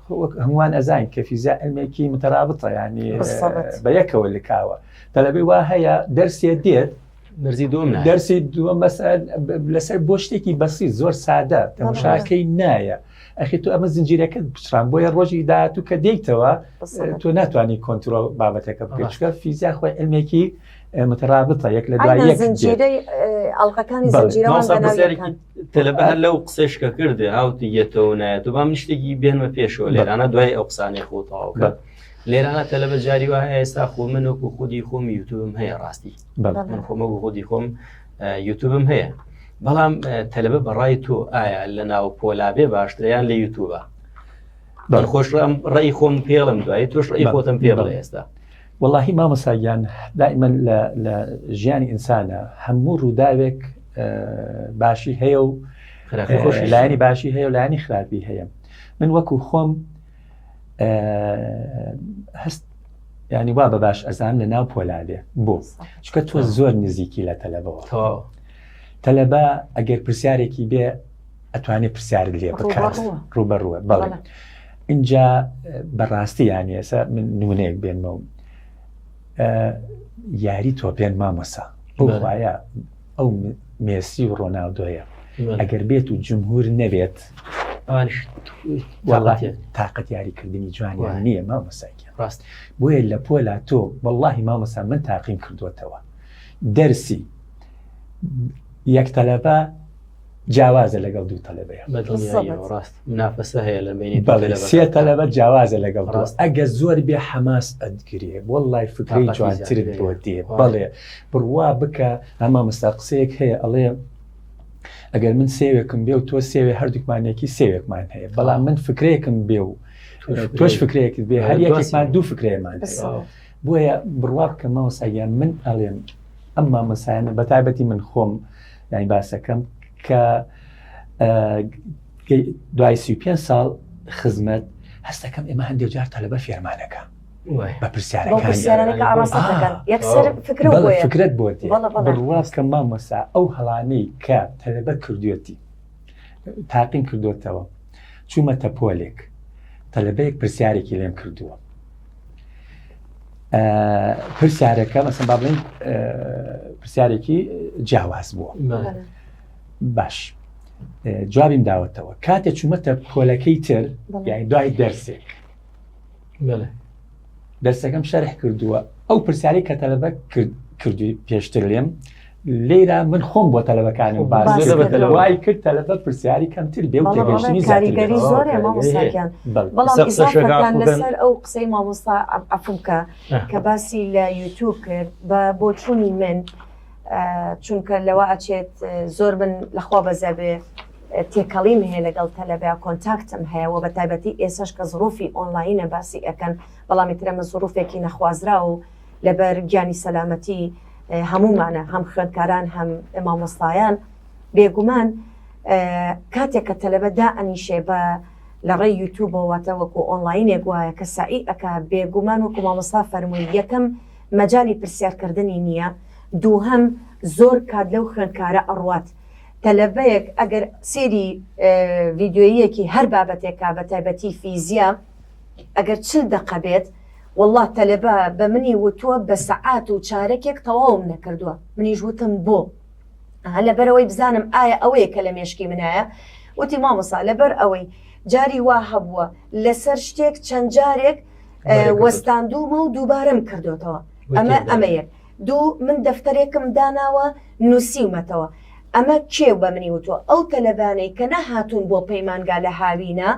خۆ وەک هەمووان ئەزانین کە فیزیا علمێکی متەرابتە یعنی بالضبط. بە یەکەوە لکاوە تەلەبەی وا هەیە دەرسێ دێت دەرزی دوم نایە دەرسی دووە مەسەل لەسەر بۆ شتێکی بەسی زۆر سادە تەماشاکەی نایە ئەخی تو ئەمە زنجیرەکەت بچران بۆیە ڕۆژی داهات و کە دێیتەوە بالضبط. تۆ ناتوانانی کۆنتترۆل بابەتەکە بکەیت ڕاست. چکە فیزیا خۆی علمێکی متەرابتە یەک لە دوای ئەینا یەک دێت. زنجیرەی ئەڵلقەکانی بەڵێ. زنجیرەوان مامۆستا بە ناوی پرسیارێکی یەکان. تەلەبە هەر لەو قسەش کە کردێ هاوتی یەتەوە نایەت و بام نیشتێکی بێنمە پێشەوە لێرانە دوای ئەو قسانێ خۆتەواو بە لێرانە تەلەبە جاری وایە ئێستا خۆ من وەکو خودی خۆم یوتوبم هەیە ڕاستی من خۆمە بۆ خودی خۆم یوتوبم هەیە بەڵام تەلەبە بەڕای تۆ ئایا لە ناو پۆلابێ باشتریان لە یوتوبە بەخۆش ڕێی خۆم پێڵم دوای تۆش ڕێی خۆتم پێڵە ئێستا وەڵاهی مامۆستا گیان دائیمەن لە ژیانی ئینسانە هەموو ڕووداوێک باشی هەیە و لایانی باشی هەیە و لایانی خراپی هەیە من وەکو خۆم هەست ینی وا بە باش ئەزان لە ناو پۆلادێ بۆ چکە تۆ زۆر نزیکی لە تەلەبەوە تەلەبە ئەگەر پرسیارێکی بێ ئەتوانێت پرسیارت لێ بکات ڕوبەڕوە بەڵێ اینجا بەڕاستی یان ێسا من نونەیەک بێنمەوە یاری تۆپێن مامۆسا بۆخوایە ئەو مێسی و ڕۆناودۆیە ئەگەر بێت و جمهور نەبێت تااقەت یاریکردنی جوانیان نییە مامۆساکە ڕاست بۆیە لە پۆلا تۆ بەڵی مامۆسا من تاقیم کردوتەوە دەرسی یەک تەلەبە جیاوازە لەگەڵ دوو تەلەبەیە ڕاست نافەسە هەیە لە بینی سێ تەلەبە جیاوازە لەگەڵ ڕاست ئەگە زۆر بێ حەماس ئەدگرێ بۆ لای فکری جوانتر بۆ دێ بەڵێ بڕوا بکە ئەما مەستا قسەیەک هەیە ئەڵێ ئەگەر من سێوێکم بێ و تۆ سێوێ هەردووکمانێکی سێوێکمان هەیە بەڵام من فکرێکم بێ و تۆش فکرێکت بێ هەر یەکێکمان دوو فکرێمان بۆیە بڕوا بکەمەوە ساگیان من ئەڵێم ئەم مامەسایانە بە تایبەتی من خۆم یانی باسەکەم کە دوای سی پێ ساڵ خزمەت هەستەکەم ئێمە هەندێک جار تەلبە فێرمانەکە بە پرسیارەکانفکرت بۆ بڕواز کە مامۆسا ئەو هەڵانەی کە تەلبە کردوێتی تاقیم کردوێتەوە چوومەتە پۆلێک تەلبەیەک پرسیارێکی لێم کردووە پرسیارەکە مەسم با بڵین پرسیارێکی جیاواز بووە باش جوابیم داوەتەوە کاتێ چوومەتە پۆلەکەی تر یعنی دوای دەرسێک دەرسەکەم شەرح کردووە ئەو پرسیاری کە تەلبە کردوی پێشتر لێم لێرا من خۆم بۆ تەلەبەکانم وای کرد تەلەبە پرسیاری کەمتر بێ و تێگەشتنی کاریگەری زۆر مامۆستاکیان بەڵام لەسەر ئەو قسەی مامۆستا ئەفمکە کە باسی لە یوتوب کرد بە بۆچوونی من چونکە لەوە ئەچێت زۆر من لەخوا بەزەبێ تێکەڵیم هەیە لەگەڵ تەلەبیا کۆنتاکتم هەیە و بە تایبەتی ئێسش کە زڕوفی ئۆنلاینە باسی ئەەکەن بەڵامی ترەمە زڕوفێکی نەخوازرا و لەبەر گیانی سەلامەتی هەموومانە هەم خوێندکاران هەم مامۆستایان بێگومان کاتێک کە تەلەبە دا ئەنیشێ بە لە ڕێ یوتوبەوەتە وەکو ئۆنلاینێک وایە کە سعی ئەک بێگومان وەکو مامۆستا فەرمووی یەکەم مەجای پرسیارکردنی نییە دووهم زۆر کات لەو خوێندکارە ئەڕوات تەلەبەیەک ئەگەر سێری ڤیددیویەکی هەر بابەتێکا بە تایبەتی فیزیا ئەگەر چل دەقە بێت وەڵڵا تەلەبە بە منی وتووە بە سەعات و چارەکێک تەواوم نەکردووە منیش وتم بۆ؟ ها لەبەرەوەی بزانم ئایا ئەوەیە کە لە مێشکی منایە وتی مامۆسا لەبەر ئەوەی جاری وا هەبووە لەسەر شتێک چەند جارێک وەستاندوومە و دووبارەم کردوێتەوە ئەمە ئەمەیە دوو من دەفتەرێکم داناوە نووسیومەتەوە ئەمە کێو بە منی وتوە ئەو تەلەبانەی کە نەهاتوون بۆ پەیمانگا لە هاوینە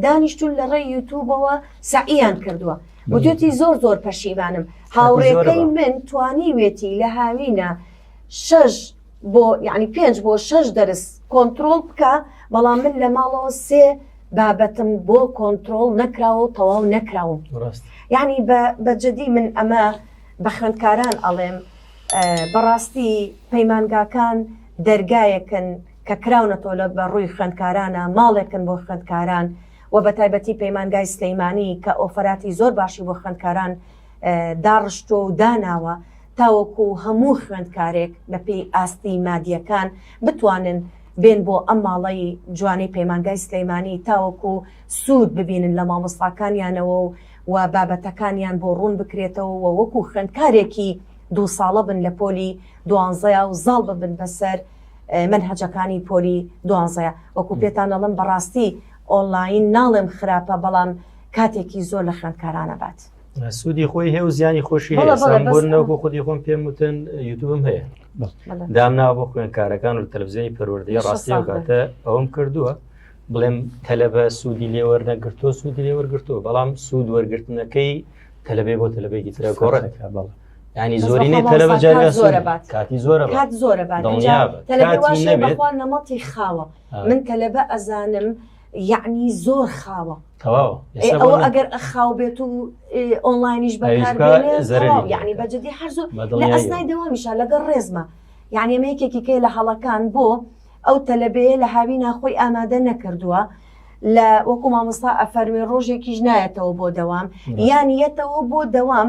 دانیشتون لە ڕێی یوتوبەوە سەعیان کردووە وتوتی زۆر زۆر پەشیمانم هاوڕێکەی من توانیوێتی لە هاوینە شەش بۆ یعنی پێنج بۆ شەش دەرس کۆنتترۆل بکە بەڵام من لە ماڵەوە سێ بابەتم بۆ کۆنتترۆل نەکراوە و تەواو نەکراوم یعنی بە جدی من ئەمە بە خوێندکاران ئەڵێم بەڕاستی پەیمانگاکان دەرگایەکن کە کراونەتەوە لە بە ڕووی خوێندکارانە ماڵێکن بۆ خوێندکاران و بە تایبەتی پەیمانگای سلەیمانی کە ئۆفەراتی زۆر باشی بۆ خوێندکاران داڕشتوە و داناوە تاوەکو هەموو خوێندکارێک بە پێی ئاستی مادیەکان بتوانن بێن بۆ ئەم ماڵی جوانی پەیمانگای سلەیمانی تاوەکو سوود ببینن لە مامۆستاکانیانەوە و و بابەتەکانیان بۆ ڕوون بکرێتەوە و وەکو خوێندکارێکی دوو ساڵە بن لە پۆلی دوانزەیا و زاڵ ببن بەسەر مەنهەجەکانی پۆلی دوانزەیە وەکو پێتان دەڵم بەڕاستی ئۆنلاین ناڵێم خراپە بەڵام کاتێکی زۆر لە خوێندکارانە بات سوودی خۆی هەیە و زیانی خۆشی بۆنەوەکو خودی خۆم پێم وتن یوتوبم هەیە دامناوە بۆ خوێندکارەکان و تەلزیۆنی پەروەردەی ڕاستی کاتە ئەوم کردووە بڵێم تەلەبە سوودی لێوەرنەگرتۆ سوودی لێوەرگرتووە بەڵام سوود وەرگرتنەکەی تەلبێ بۆ تەلبێکی ترە گۆڕێک بەڵ ینی زۆرینەی تەلەبە جاریا زۆرە بات کاتی زۆرە کات زۆرە بات تەلەبەخوا نەمەڵی خاوە من تەلەبە ئەزانم یعنی زۆر خاوە تەواو ئەوە ئەگەر ئەخاو بێت و ئۆنلاینیش بەکار یعنی بەجددی هەر زۆر لە ئەسنای دەوامیشە لەگەڵ ڕێزمە یعنی ئەمە یەکێکی کەی لە هەڵەکان بۆ ئەو تەلەبەیە لە هاوی ناخۆی ئامادە نەکردووە لە وەکو مامۆستا ئەفەروێ ڕۆژێکیش نایەتەوە بۆ دەوام یان یەتەوە بۆ دەوام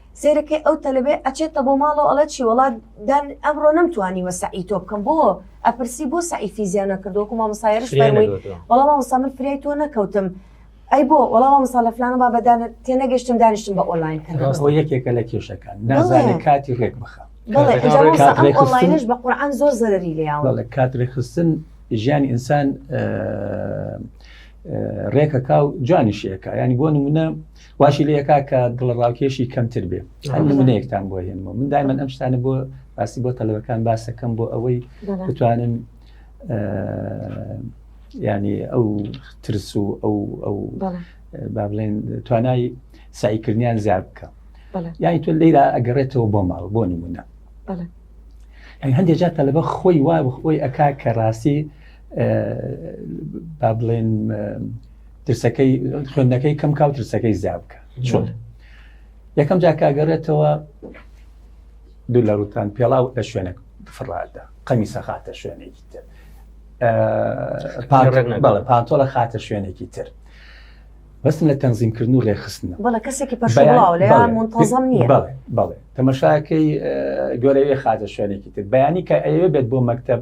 سەیرەکەی ئەو تەلەبەیە ئەچێتە بۆ ماڵەوە ئەڵێ چی وەڵا دان ئەمڕۆ نەمتوانیوە سەعی تۆ بکەم بۆ ئەپرسی بۆ سەعی فیزیا نەکرد وەکو مامۆستا یاریش فرێ فەرمووی نەگەوتووە وەڵا مامۆستا من فریای تۆ نەکەوتم ئەی بۆ وەڵا مامۆستا لە فلانە بابە دان تێنەگەشتم دانیشتم بە ئۆنلاین کردن ڕاستە ئەوە یەکێکە لە کێشەکان نازانێت بەڵێ. کاتی ڕێک بخا بەڵێ کاتەکان ئینجا ڕێک مامۆستا کات ئەم ڕێکخستن. ئۆنلاینەش بە قورعان زۆر زەرەری لێیاوە بەڵێ کات ڕێکخستن ژیانی ئینسان ڕێکەکە و جوانیشەکە ینی بۆ نمونە واشی لێ کا کە دڵڕاوکێشی کەمتر بێ هەر نمونەیەکتان بۆ هێنمەوە من دایمەن ئەم شتانە بۆ باسی بۆ تەلەوەکان باسەکەم بۆ ئەوەی بتوانن ینی ئەو ترس و ئەو ئەو با بڵێن توانای سعیکردنیان زیاد بکە یانی تۆ لێرا ئەگەڕێتەوە بۆ ماڵ بۆ نمونە هەندێک جا تەلەبە خۆی وا خۆی ئەک کە ڕاستی با بڵێن ترسەکەی خوێندەکەی کەم کاو ترسەکەی زیا بکە چۆن یەکەم جاکگەڕێتەوە دوو لە ڕوتان پێڵاو لە شوێنە فڕادە قەمی سەخاتە شوێنێکی تر پانتۆڵە خاتە شوێنێکی تر بەستن لە تەنزیمکردن و ڕێخستنە بەڵە کەسێکی پەشڵاوەڵێزم نیە بەڵێ بەڵێ تەمەشاکەی گۆرەوێ خاتە شوێنێکی تر بەیانی کە ئەوێ بێت بۆ مەکتب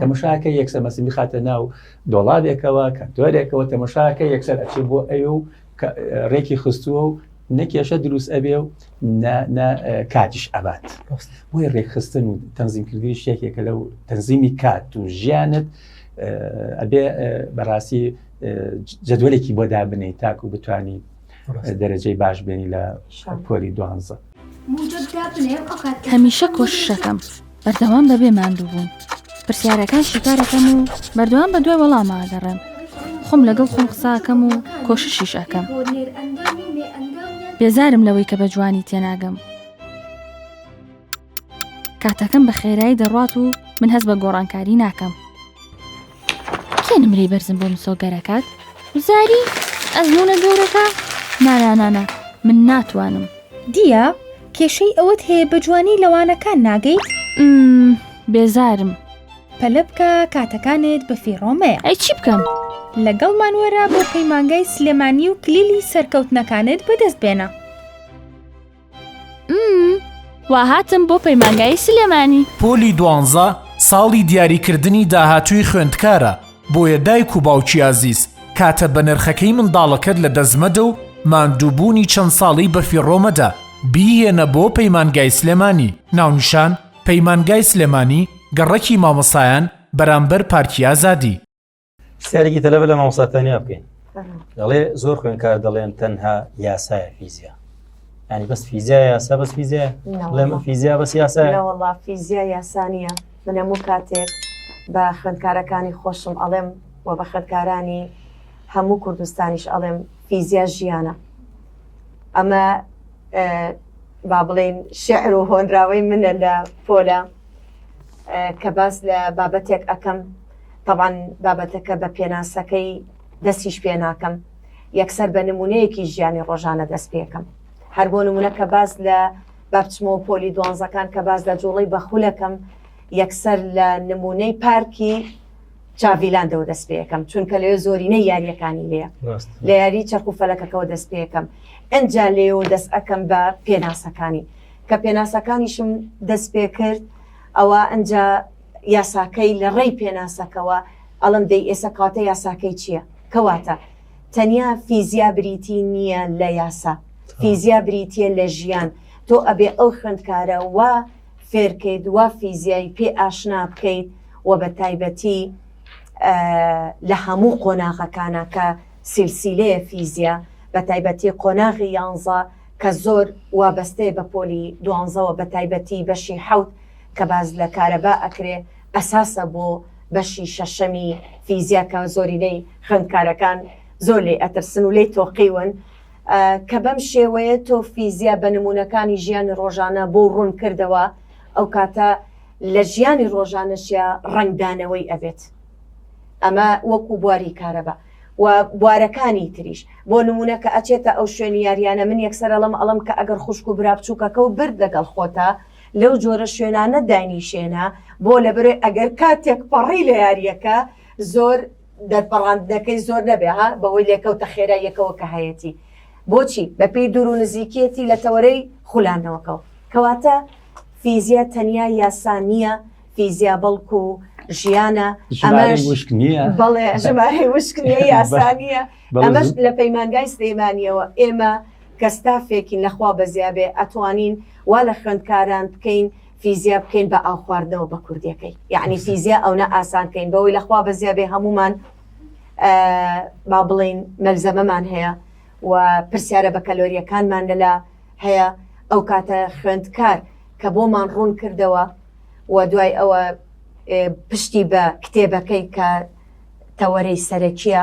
تەمەشاکە یەکسەر مەسی بخاتە ناو دۆڵابێکەوە کەنتۆرێکەوە تەمەشاکە یەکسەر ئەچێ بۆ ئەو و ڕێکی خستووە و نەکێشە دروست ئەبێ و کاتیش ئەبات بۆی ڕێکخستن و تەنزیمکردنی شتێکێکە لەو تەنزیمی کات و ژیانت ئەبێ بەڕاستی جدولێکی بۆ دابنی تاکو بتانی دەرەجەی باش بێنی لە پۆلی دوانزە هەمیشە کۆششەکەم بەردەوام بەبێ ماندووبوون پرسیارەکان شیکارەکەم و بەردەوام بە دوای وەڵاماگەڕێم خۆم لەگەڵ خۆم قساکەم و کۆششیش ئەەکەم بێزارم لەوەی کە بە جوانی تێناگەم کاتەکەم بە خێرایی دەڕات و من هەست بە گۆڕانکاری ناکەم کێ نمرەی بەرزم بۆ مسۆگەرەکات وزاری ئەزمونە گەورەکە نانانانا من ناتوانم دیە کێشەی ئەوەت هەیە بە جوانی لەوانەکان ناگەیت بێزارم پەلە بکە کاتەکانت بە فیڕۆمەیە ئەی چی بکەم لەگەڵمان وەرە بۆ پەیمانگای سلێمانی و کلیلی سەرکەوتنەکانت بەدەست بێنە وا هاتم بۆ پەیمانگای سلێمانی پۆلی دوانزە ساڵی دیاریکردنی داهاتووی خوێندکارە بۆیە دایک و باوکی ئازیز کاتە بە نرخەکەی منداڵەکەت لە دەستمەدە و ماندووبوونی چەند ساڵی بەفیڕۆمەدە بیهێنە بۆ پەیمانگای سلێمانی ناونیشان پەیمانگای سلێمانی گەڕەکی مامۆسایان بەرامبەر پارکی ئازادی. پرسیارێکی تەلەبە لە مامۆستا تەنیا بکەین دەڵێ زۆر خوێنکار دەڵێن تەنها یاسایە فیزیا ینی بەس فیزیا یاسا بەس فیزیا لەمە فیزیا بەس یاسا وڵا فیزیا یاسانە منەمو کاتێک بە خوێندکارەکانی خۆشم ئەڵێم و بە خوێندکارانی هەموو کوردستانیش ئەڵێم فیزیا ژیانە ئەمە با بڵین شعر و هۆنراوەی منە لە پۆلە کە باس لە بابەتێک ئەەکەم تەبعەن بابەتەکە بە پێناسەکەی دەستیش پێ ناکەم، یەکسەر بە نموونەیەکی ژیانی ڕۆژانە دەست پێ ئەکەم. هەر بۆ نموونە کە باس لە با بچمەوە پۆلی دوانزەکان کە باس لە جووڵەی بە خول ئەکەم، یەکسەر لە نموونەی پارکی چاڤیلاندەوە دەست پێ ئەکەم، چونکە لەوێ زۆرینەی یارییەکانی لێیە. ڕاست. لە یاری چەرخ و فەلەکەکەوە دەست پێ ئەکەم. ئینجا لێیەوە دەست ئەکەم بە پێناسەکانی. کە پێناسەکانیشم دەست پێ کرد، ئەوا ئینجا. یاساکەی لە ڕێی پێناسەکەوە ئەڵێم دەی ئێسە کەواتە یاساکەی چیە کەواتە تەنیا فیزیا بریتی نیە لە یاسا فیزیا بریتە لە ژیان تۆ ئەبێ ئەو خوێندکارە وا فێرکەیت وا فیزیای پێ ئاشنا بکەیت و بە تایبەتی لە هەموو قۆناغەکانە کە سیلسیلەیە فیزیا بە تایبەتی قۆناغی یانزە کە زۆر وابەستەیە بە پۆلی دوانزەوە بە تایبەتی بەشی حوت کە باس لە کارەبا ئەکرێ ئەساسە بۆ بەشی شەشەمی فیزیا کە زۆرینەی خوێندکارەکان زۆر لێی ئەترسن و لێی تۆقیون کە بەم شێوەیە تۆ فیزیا بە نمونەکانی ژیانی ڕۆژانە بۆ ڕوون کردەوە ئەو کاتە لە ژیانی ڕۆژانەشیا ڕەنگدانەوەی ئەبێت ئەمە وەکو بواری کارەبا و بوارەکانی تریش بۆ نمونە کە ئەچێتە ئەو شوێنی یاریانە من یەکسەر ئەڵم ئەڵم کە ئەگەر خوشک و برا بچووکەکە و برد لەگەڵ خۆتە لەو جۆرە شوێنانە داینیشێنە بۆ لەبەرەی ئەگەر کا تێکپەڕی لە یاریەکە زۆر دەرپەڕاندنەکەی زۆر نەبێ ها بەهۆی لێکەوتە خێرا یەکەوە کە هەیەتی بۆچی بەپی دوور و نزیکیەتی لە تەوەرەی خولانەوەکەەوە کەواتە فیزیا تەنیا یاسا نییە فیزیا بەڵکو ژیانە ئەمەش وشک نییە بەڵێ ژمارەی وشک نیە یاسا نییە ئەمەش لە پەیمانگای سلێمانیەوە ئێمە کە ستافێکین لە خوا بەزیابێ ئەتوانین وا لە خوێندکاران بکەین فیزیا بکەین بە ئاو خواردنەوە بە کوردیەکەی یەعنی فیزیا ئەونە ئاسان کەین بەوەی لە خوا بەزیابێ هەموومان با بڵێین مەلزەمەمان هەیە و پرسیارە بە کەلۆریەکانمان لەلا هەیە ئەو کاتە خوێندکار کە بۆمان ڕوون کردەوە و دوای ئەوە پشتی بە کتێبەکەی کە تەوەرەی سەرەکیە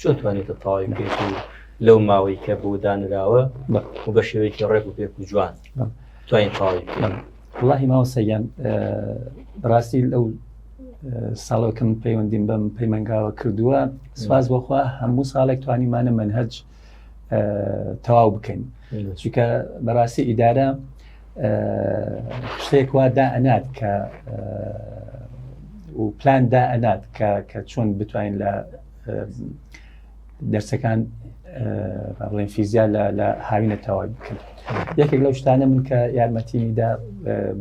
چۆن توانیوتە تەواوی بکەیت و لەو ماوەی کە بۆ دانراوە و بە شێوەیەکی ڕێک و پێک و جوان توانین تەواوی بکەین وڵی ماوەسەگەن بڕاستی لەو ساڵەکەم پەیوەندیم بەم پەیمانگاوە کردووە سپاس بۆخوا هەموو ساڵێک توانیمانە منهج تەواو بکەین چونکە بەڕاستی ئیدارە شتێک وا دا ئەنات کە و پلان دا ئەنات کە چۆن بتوانین لە دەرسەکان بڵێن فیزیا لە هاوینە تەواوی بکرد یەکێک لەو شتانە من کە یارمەتیمیدا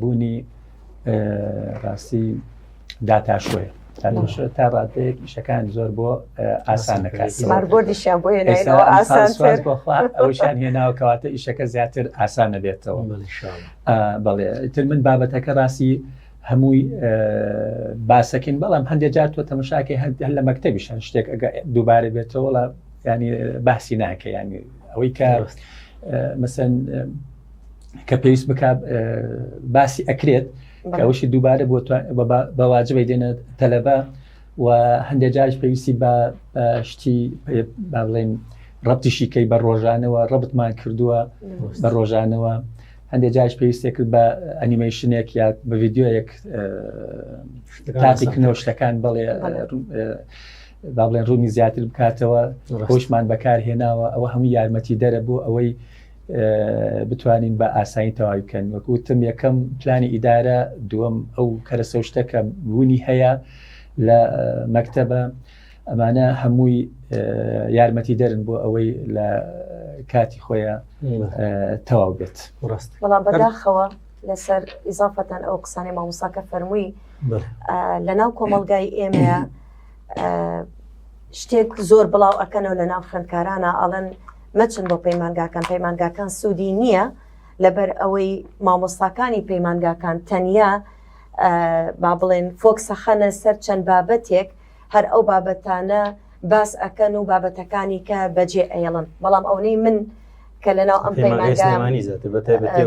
بوونی ڕاستی داتاشۆیە تا ڕاتەیەک ئیشەکان زۆر بۆ ئاسانەکەسانیان هێناوکەواتە ئیشەکە زیاتر ئاسانە بێتەوە بەڵێ تر من بابەتەکە ڕاستی هەمووی باسەکەین بەڵام هەندێک جار تۆ تەمەشاکەی هەند هەر لە مەکتتەبیش هەن شتێک ئەگە دووبارە بێتەوەڵە ینی باسی ناکە ینی ئەوەی کە مەسەن کە پێویست بک باسی ئەکرێت کەوەشی دووبارە بۆ بەواجبی دێنە تەلەبە و هەندێک جارش پێویستی بە شتی با بڵێن ڕەتیشیکەی بە ڕۆژانەوە ڕەبتمان کردووە بە ڕۆژانەوە هەندێک جاریش پێویستێ کرد بە ئەنیمەیشنێک یا بە ڤیددیوەیەک تاقی کنەوە شتەکان بەڵێ با بڵێن ڕوونی زیاتر بکاتەوە خۆشمان بەکار هێناوە ئەوە هەموو یارمەتی دەرە بۆ ئەوەی بتوانین بە ئاسایی تەواوی بکەن وەکوتم یەکەم پلانی ئیدارە دووەم ئەو کەرەسەشتەکە بوونی هەیە لە مەکتتەبە ئەمانە هەمووی یارمەتی دەرن بۆ ئەوەی لە کاتی خۆیان تەواو بێت ڕاست بەڵام بەداخەوە لەسەر ئیزافەتەن ئەو قسانەی مامۆساکە فەرمووی لە ناو کۆمەلگای ئێمەیە شتێک زۆر بڵاو ئەەکەنەوە لە ناو خوێندکارانە ئەڵەن مەچن بۆ پەیمانگاکان پەیمانگاکان سوودی نییە لەبەر ئەوەی مامۆستاکانی پەیمانگاکان تەنیا با بڵێن فۆکسەخەنە سەر چەند بابەتێک هەر ئەو بابەتانە باس ئەکەن و بابەتەکانی کە بەجێ ئەیڵن بەڵام ئەونەی من کە لە ناو ئەم پەیمانگەمانی زیاتر بە تایبەتی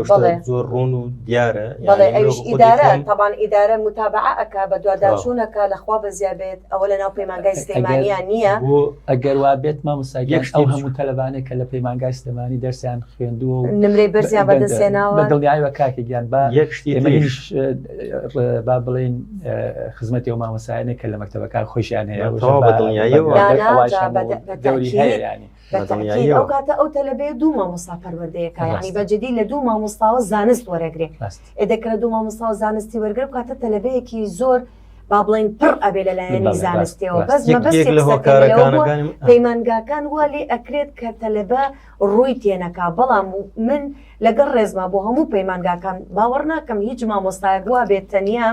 زۆر ڕۆن و دیارە بەڵێ ئەوش ئیدارە تاوان ئیدارە متابعە ئەک بە دوواداچوونەکە لەخوا بەزیا بێت ئەوە لە ناو پەیمانگای سلێمانیا نییە بۆ ئەگەر وا بێت مامۆساگەش ئەو هەموو تەلبانێ کە لە پەیمانگای سلێمانی دەرسیان خوێندووە و نمرەی بەرزیان بەدەستێناوە دڵنیایوە کاکە گیان با یەک شتی با بڵێین خزمەتی و مامەسایانێک کە لە مەکتتەبەکان خۆشیان هەیە ئەو کاتە ئەو تەلبێ دوو مامۆستا پەروەردەیەەکانی بەجددی لە دوو مامۆستاوە زانست وەرەگرێت ئێدەکرە دوو مامۆستا و زانستی وەرگر کاتە تەلبەیەکی زۆر با بڵین پڕ ئەبێ لە لایەنی زانستەوە بەس لە هۆکارەکان پەیمانگاکان والی ئەکرێت کە تەلبە ڕووی تێنەکا بەڵام من لەگەڵ ڕێزما بۆ هەموو پەیمانگاکان باوەڕ ناکەم هیچ مامۆستایەک وابێت تەنیا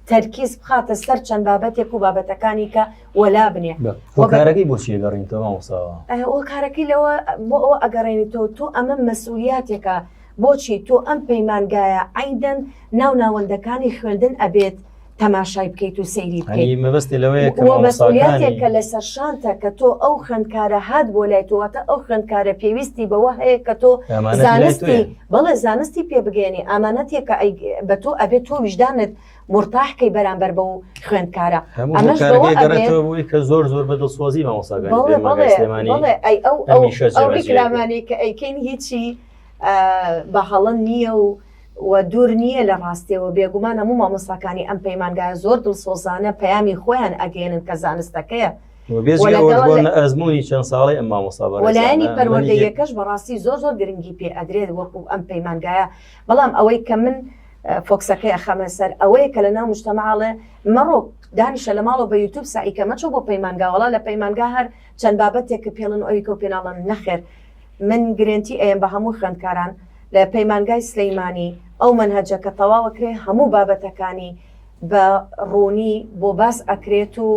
تەرکیز بخاتە سەر چەند بابەتێک و بابەتەکانی کە وەلا بنێ هۆکارەکەی بۆچی ئەگەڕینتەوە مامۆستاوە هۆکارەکەی لەوە بۆ ئەوە ئەگەڕێنیتەوە تۆ ئەمە مەسئولیاتێکە بۆچی تۆ ئەم پەیمانگایە عیندەن ناو ناوەندەکانی خوێندن ئەبێت تەماشای بکەیت و سەیری بکەیت مەبستی لەوەیە کە لەسەر شانتە کە تۆ ئەو خوێندکارە هات بۆ لای تۆواتە ئەو خوێندکارە پێویستی بەوە هەیە کە تۆ زانستی بەڵێ زانستی پێ بگەێنی ئامانەتێکە بە تۆ ئەبێت تۆ ویژدانت مرتاحکەی بەرامبەر بە و خوێندکارە ئەمەشەوەی کە زۆر زۆر بە دڵسۆزی مامۆساگەمانیشەمانەکەی کە ئەیکەین هیچی بە هەڵە نییە و و دوور نییە لە ڕاستییەوە، بێگومان هەموو مامۆستاکانی ئەم پەیمانگایە زۆر دڵسۆزانە پەیامی خۆیان ئەگەیەنن کە زانستەکەیە و بێجگە ئەوەش بۆ ئەزموونی چەند ساڵەی ئەم مامۆستا بەڕێزانە، و لایەنی پەروەردەییەکەش بەڕاستی زۆر زۆر گرنگی پێ ئەدرێت وەکو ئەم پەیمانگایە، بەڵام ئەوەی کە من فۆکسەکەی ئەخەمە سەر ئەوەیە کە لە ناو مشتەمەعا ئەڵێ مەڕۆ دانیشە لە ماڵەوە بە یوتوب سەعی کە مەچۆ بۆ پەیمانگا وەڵا لە پەیمانگا هەر چەند بابەتێک کە پێڵن ئەوی کە و پێ ناڵن نەخێر من گرێنتی ئەیەم بە هەموو خوێندکاران لە پەیمانگای سلەیمانی ئەو مەنهەجە کە تەواوە کرێ هەموو بابەتەکانی بە ڕوونی بۆ باس ئەکرێت و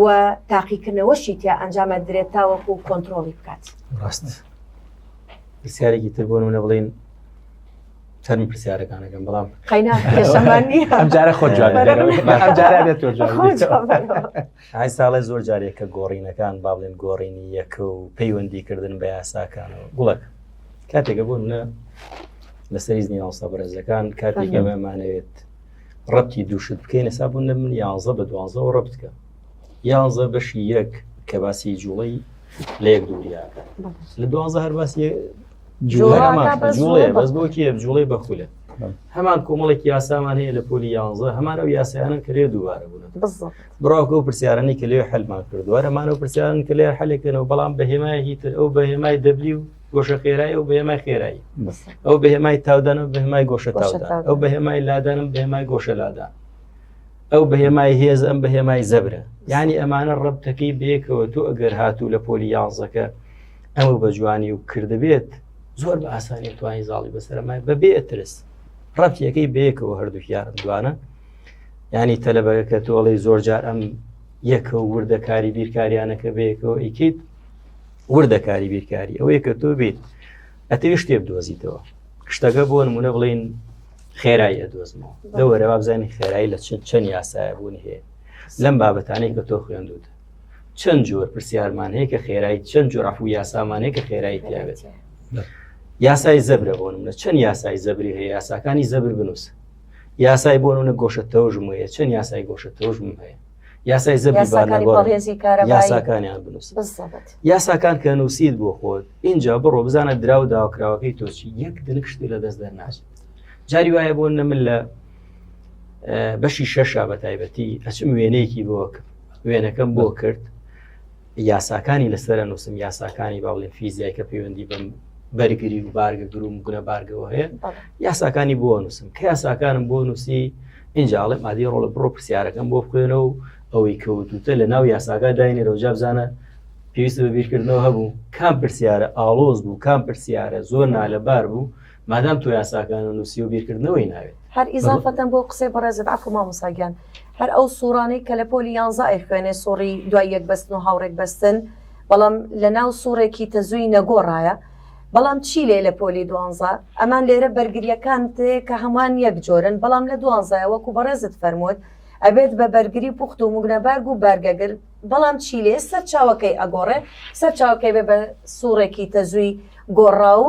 و تاقیکردنەوەشی تیا ئەنجام ئەدرێت تاوەکو کۆنترۆڵی بکات ڕاست پرسیارێکی تر بۆن و نەبڵین چەند پرسیارەکانەکەم بەڵام قەینا کێشەمان نییە ئەمجارە خۆ جواب ئەمجارە بێت تۆ جواب ئای ساڵێ زۆر جارێ کە گۆڕینەکان با بڵێن گۆڕینی یەکە و پەیوەندیکردن بە یاساکانەوە گوڵک کاتێکە بۆ منە لەسەر زنی یاوسە بەرزەکان کاتێک ئێمەمانەوێت ڕەتی دووشت بکەین ئەسا بوون لە من یاانزە بە دوانزەوە ڕە بکە یاانزە بەشی یەک کە باسی جوڵی لە یەک دووریاکە لە دوانزە هەر باسی جوڵێ بەس بۆکی جوڵی بەخولە هەمان کۆمەڵێک یاسامان هەیە لە پۆلی یاانزە هەمان ئەو یاسایانە کرێ دووبارە بوون بڕاوکە و پرسیارانی کە لێ حلمان کردووە ئەمان و پرسیارن کە لێ حلێکەنەوە بەڵام بە هێمای هیتر ئەو بە هێمای دەبلی و گۆشە خێرای ئەو بەێمای خێرایی ئەو بە هێمای تاودان و بەهمای گۆشە تاودان ئەو بە هێمای لادانم بەێمای گۆشە لادان ئەو بە هێمای هێز ئەم بە هێمای زەبرە ینی ئەمانە ڕبتەکەی بێکەوە تۆ ئەگەر هاتوو لە پۆلی یانزەکە ئەمە بە جوانی و کردبێت زۆر بە ئاسانی توانی زاڵی بەسەرمای بەبێ ئەترس ڕەتیەکەی بەیەکەوە هەردووکیانم دوانە ینی تەلەبەکە کە تۆڵی زۆر جار ئەم یەکە و وردەکاری بیرکاریانەکە بەیەکەوە ئیکیت وردەکاری بیرکاری ئەوەیە کە تۆ بیت ئەتەوی شتێ بدۆزیتەوە شتەکە بۆ نمونە بڵین خێرایی ئەدۆزمەوە لەوەرە وابزانانی خێرایی لە چەند چەند یاسایە بوون هەیە لەم بابەتانەی کە تۆ خوێندوت چەند جۆر پرسیارمان هەیە کە خێرایی چەند جۆر عفو یاسامانەیە کە خێرایی تیاێت یاسای زەبرە بۆ منە چەند یاسای زەبری هەیە یاساکانی زەبر بنووسە یاسای بۆ نمونە گۆشە تەوژم هەیە چەند یاسای گۆشە تەوژم هەیە یاسای زەبی یاساکانی بانەگۆڕ بەڕێزی کارەبایی یاساکانیان بنووسن بالضبط. یاساکان کە نووسیت بۆ خۆت اینجا بڕۆ بزانە دراو داواکراوەکەی تۆچی یەک دنک شتی لە دەست دەرناچێت جاری وایە بۆ نە من لە اه، بەشی شەشا بە تایبەتی ئەچم وێنەیەکی بۆ کرد وێنەکەم بۆ کرد یاساکانی لەسەر نووسم یاساکانی با بڵێن فیزیای کە پەیوەندی بم بەرگری و بارگە گروم گونە بارگەوە هەیە یاساکانی بۆ نووسم کە یاساکانم بۆ نووسی ئینجاڵێ مادی ڕۆڵە بڕۆ پرسیارەکەم بۆ بخوێنە و ئەوەی کەوتوتە لە ناو یاساگا داینێرە و جابزانە پێویست بە بیرکردنەوە هەبوو کام پرسیارە ئاڵۆز بوو کام پرسیارە زۆر نالەبار بوو مادام تۆ یاساکان و نوسی و بیرکردنەوەی ناوێت. هەر ئیزافەتەن بۆ قسەی بەڕێزت عەفو مامۆستا گیان هەر ئەو سوڕانەی کە لە پۆلی یانزە ئەیخوێنێ سوڕی دوای یەک بەستن و هاوڕێک بەستن بەڵام لە ناو سوڕێکی تەزووی نەگۆڕایە بەڵام چی لێ لە پۆلی دوانزە ئەمان لێرە بەرگریەکان تێ کە هەمووان یەک جۆرن بەڵام لە دوانزایە وەکو بەڕێزت فەرمووت ئەبێت بە بەرگری پوخت و مگنەبارگ و بارگەگر بەڵام چی لێ سەرچاوەکەی ئەگۆڕێ سەرچاوەکەی بێ بە سوڕێکی تەزووی گۆڕا و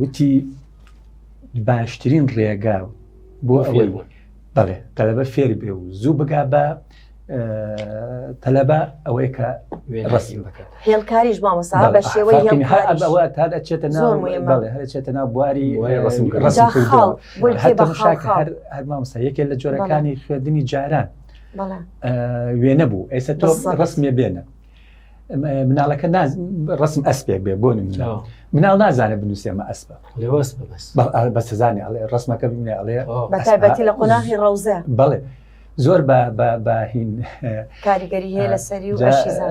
وتی باشترین ڕێگا بۆ ئەوەی بوون بەڵێ تەلەبە فێر بێ و زوو بگا بە تەلەبە ئەوەی کە ڕستی بکات هێڵکاریش مامەسا بە شێوەی تا دەچێتە ناوچێتە ناو بواری هەر مامسا یەکێ لە جۆرەکانی خوێندنی جاران وێنە بوو ئێستا تۆ ڕسمێ بێنە مناڵەکە ڕسم ئەسپێک بێ بۆ مناڵ نازانە بنووسێمە ئەسپە بە سزانانی ئەڵێ ڕسمەکە بینێ ئەڵێ بەتابەتی لە قۆناغی ڕەوزە بڵێ زۆر باهین کاریگەری هەیە لە سەری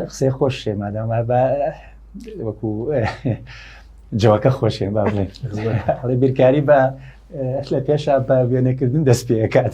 قسەی خۆش شێمادام بە وەکو جوەکە خۆشێن با بڵێ بیرکاری بە لە پێشا بە وێنەکردن دەست پێکات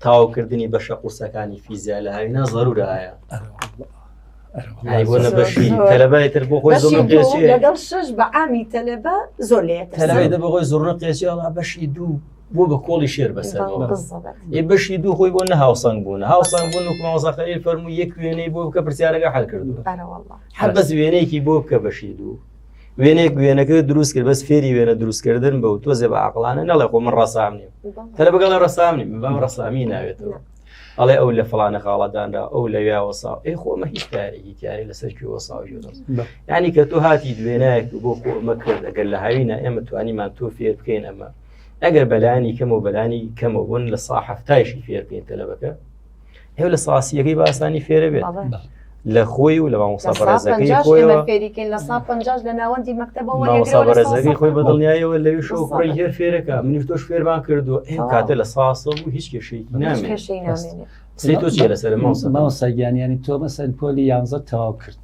تاوکردنی بەشە قورسەکانی فیزیا لە هاوینا زەرورە ئایا تەلەبای تر بۆ خۆی زۆر قێچی لەگەڵ شش بە عامی تەلەبە زۆر لێ تەلەبای دە بەخۆی زۆر قێچی ئەڵا بەشی دوو بۆ بە کۆڵی شێر بەسەر ئێ بەشی دوو خۆی بۆ نە هاوسەنگ بوون هاوسەنگ بوون و ماوەزاخەری فەرمو یەک وێنەی بۆ بکە پرسیارەکە حل کردو هەر بەس وێنەیەکی بۆ بکە بەشی دوو وێنێک وێنەکە دروست کرد بەس فێری وێنە دروستکردن بە و تۆزێ بە عقلانە نەڵێ خۆ من ڕسام نیم تەلە بگەڵە ڕسام نیم بەم ڕسامی ناوێتەوە ئەڵێ ئەو لە فلانە خاڵەدانرا ئەو لە یاوە ساو ئەی خۆمە هیچ کارێکی تیاری لەسەر کوێوە ساو ینی کە تۆ هاتی دوێنایەک بۆ خۆمە کرد ئەگەر لە هاوینە ئێمە توانیمان تۆ فێر بکەین ئەمە ئەگەر بەلانی کەم و بەلانی کەمەبوون لە ساحفتایشی فێر بکەین تەلەبەکە هێو لە ساسیەکەی باسانی فێرە بێت لە خۆی و لە مامۆساڕێزەکەی خۆی لە سا پ لە ناوەندی مەکتتەبەوەڕێزەکەی خۆی بە دڵنیایەوە لەوی شو خۆی هێر فێرەکە منیش تۆش فێرمان کردو ئەم کاتە لە ساسە و هیچ کێشەی نامێ سی تۆ چێ لەسەر ماوسەگیانیانی تۆ مەسەر پۆلی یانزە تەواو کرد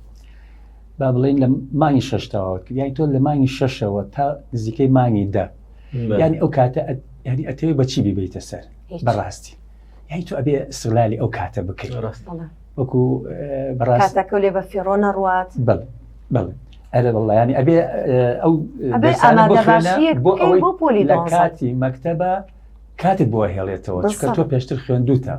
با بڵین لە مانگی شش تەواو کرد یای تۆ لە مانگی شەشەوە تا نزیکەی مانگی دە ینی ئەو کاتە ینی ئەتەوێ بەچی بیبیتە سەر بەڕاستی یعنی تۆ ئەبێ سلالی ئەو کاتە بکەیت وەکو بەڕاستەکە لێ بە فێڕۆ نەڕوات بڵ بڵ ئەرە بەڵیانی ئەبێ ئەو بۆ ئەوەی بۆ پۆلی لە کاتی مەکتتەبە کاتت بۆ هێڵێتەوە چکە تۆ پێشتر خوێندوتە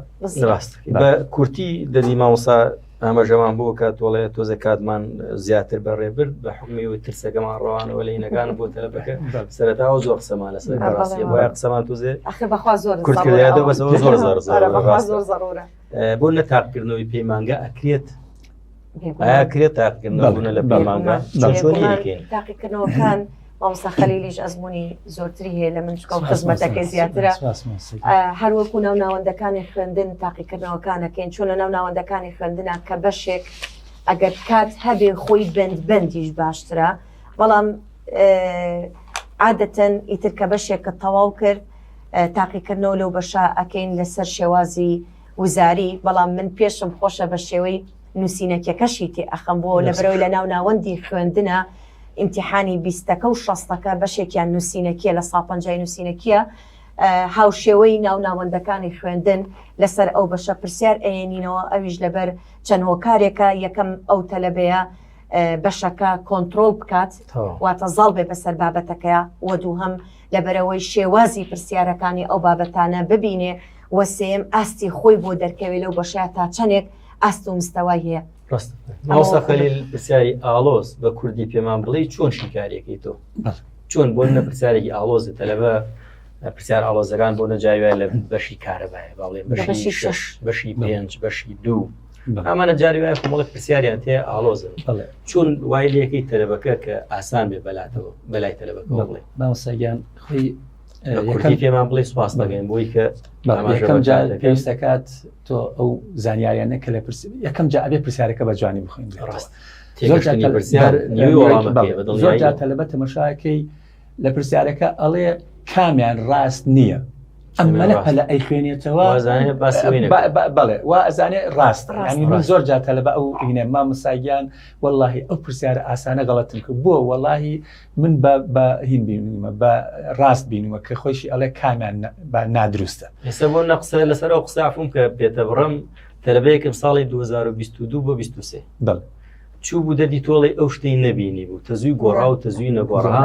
ڕاست بە کورتی دەدی ماوەسا ئاماژەمان بۆ کات وڵێ تۆزە کاتمان زیاتر بەڕێ برد بە حکمی و ترسەکەمان ڕەوانەوە لە نەکان بۆ تەلەبەکە سەرەتا و زۆر قسەمان لەسەر ڕاستی وای قسەمان تۆزێ بەخوا زۆر کوردکردێتەوە بەس زۆر زۆر زۆر زۆرە بۆ نە تاقکردنەوەی پەیمانگە ئەکرێت ئایا کرێت تاقکردنەوە لە پەیمانگە چۆنی تاقیکردنەوەکان مامۆستا خەلیلیش ئەزمونی زۆرتری هەیە لە من چکە و خزمەتەکەی زیاترە هەروەکو ناو ناوەندەکانی خوێندن تاقیکردنەوەکانەکەین چۆن لە ناو ناوەندەکانی خوێندنە کە بەشێک ئەگەر کات هەبێ خۆی بند بندیش باشترە بەڵام عادەتەن ئیتر کە بەشێک کە تەواو کرد تاقیکردنەوە لەو بەشە ئەەکەین لەسەر شێوازی وزاری بەڵام من پێشم خۆشە بە شێوەی نوسینەکیەکەشی تێ ئەخەم بۆ لەبەرەوەی لە ناو ناوەندی خوێندنە ئیمتیحانی بیستەکە و شەستەکە بەشێکیان نوسینەکیە لە سا پەنجای نوسینەکیە هاوشێوەی ناو ناوەندەکانی خوێندن لەسەر ئەو بەشە پرسیار ئەێنینەوە ئەویش لەبەر چەند هۆکارێکە یەکەم ئەو تەلەبەیە بەشەکە کۆنتترۆل بکات واتە زاڵ بێ بەسەر بابەتەکە وە دوو هەم لەبەرەوەی شێوازی پرسیارەکانی ئەو بابەتانە ببینێ وەسێم ئاستی خۆی بۆ دەرکەوێت لەو بەشە تا چەندێک ئاست و مستەوای هەیە ڕاستە مامۆستا خەلیل پرسیاری ئاڵۆز بە کوردی پێمان بڵێ چۆن شیکارەکەی تۆ چۆن بۆ نە پرسیارێکی ئاڵۆزە تەلەبە پرسیار ئاڵۆزەکان بۆ نەجاویا لە بەشی کارەبایە باڵێ بەشی شش بەشی پێنج بەشی دوو ئەمانە جاری وایە خۆڵک پرسیاریان تێ ئاڵۆزن چون وای لەکەی تەلەبەکە کە ئاسان بێ بەلاتەوە بەلای تەلەبەکە بڵێ ماوسەگیان خۆی پێمان بڵێ سپاس دەگەین بۆی کە یەکەم جار پێویستەکات تۆ ئەو زانیاریانە کە لە پرس یەکەم جا ئەبێ پرسیارەکە بە جوانی بخۆین ڕاست زۆر جا تەلبە تەمەشاکەی لە پرسیارەکە ئەڵێ کامیان ڕاست نییە ئەمەە پەلە ئەی خوێنێتەوە بڵێ وا ئەزانێ ڕاست ڕانی من زۆر جا تەلبە ئەو هینە مامساگیان واللهی ئەو پرسیارە ئاسانە گەڵەتن کرد بۆ واللهی من بە بە هین بینمە بە ڕاست بینمە کە خۆشی ئەڵێ کامیان نادروستە ئێستا بۆ نە قسە لەسەر ئەو قسافم کە پێتە بڕم تەلبەیەکم ساڵی 2022 بۆ 23 بڵ چوو بوو دەدی تۆڵی ئەو شتەی نەبینی بوو تەزووی گۆڕا و تەزووی نەگۆڕا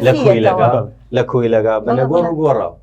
لە کۆی لەگا لە کۆی لەگا بە نەگۆڕ گۆڕا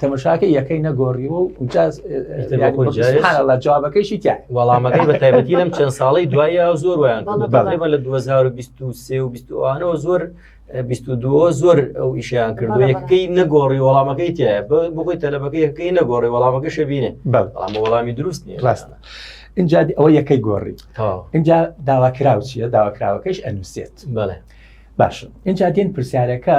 تەمەشاکە یەکەی نەگۆڕیوە و جوابەکەیشی تیا وەڵامەکەی بە تایبەتی لەم چەند ساڵی دوایە زۆر ویان بەڵێمە لە 2023 و 20وانەوە زۆر 22 زۆر ئەو ئیشیان کردو یەکەکەی نەگۆڕی وەڵامەکەی تایە بۆی تەلەبەکە یەکەکەی نەگۆڕی وەڵامەکە شەبینێ بەڵام وەڵامی دروست نیە ڕاستە اینجا ئەوە یەکەی گۆڕی اینجا داواکراو چیە داواکراوەکەش ئەنووسێت بەڵێ باشە اینجا دێن پرسیارەکە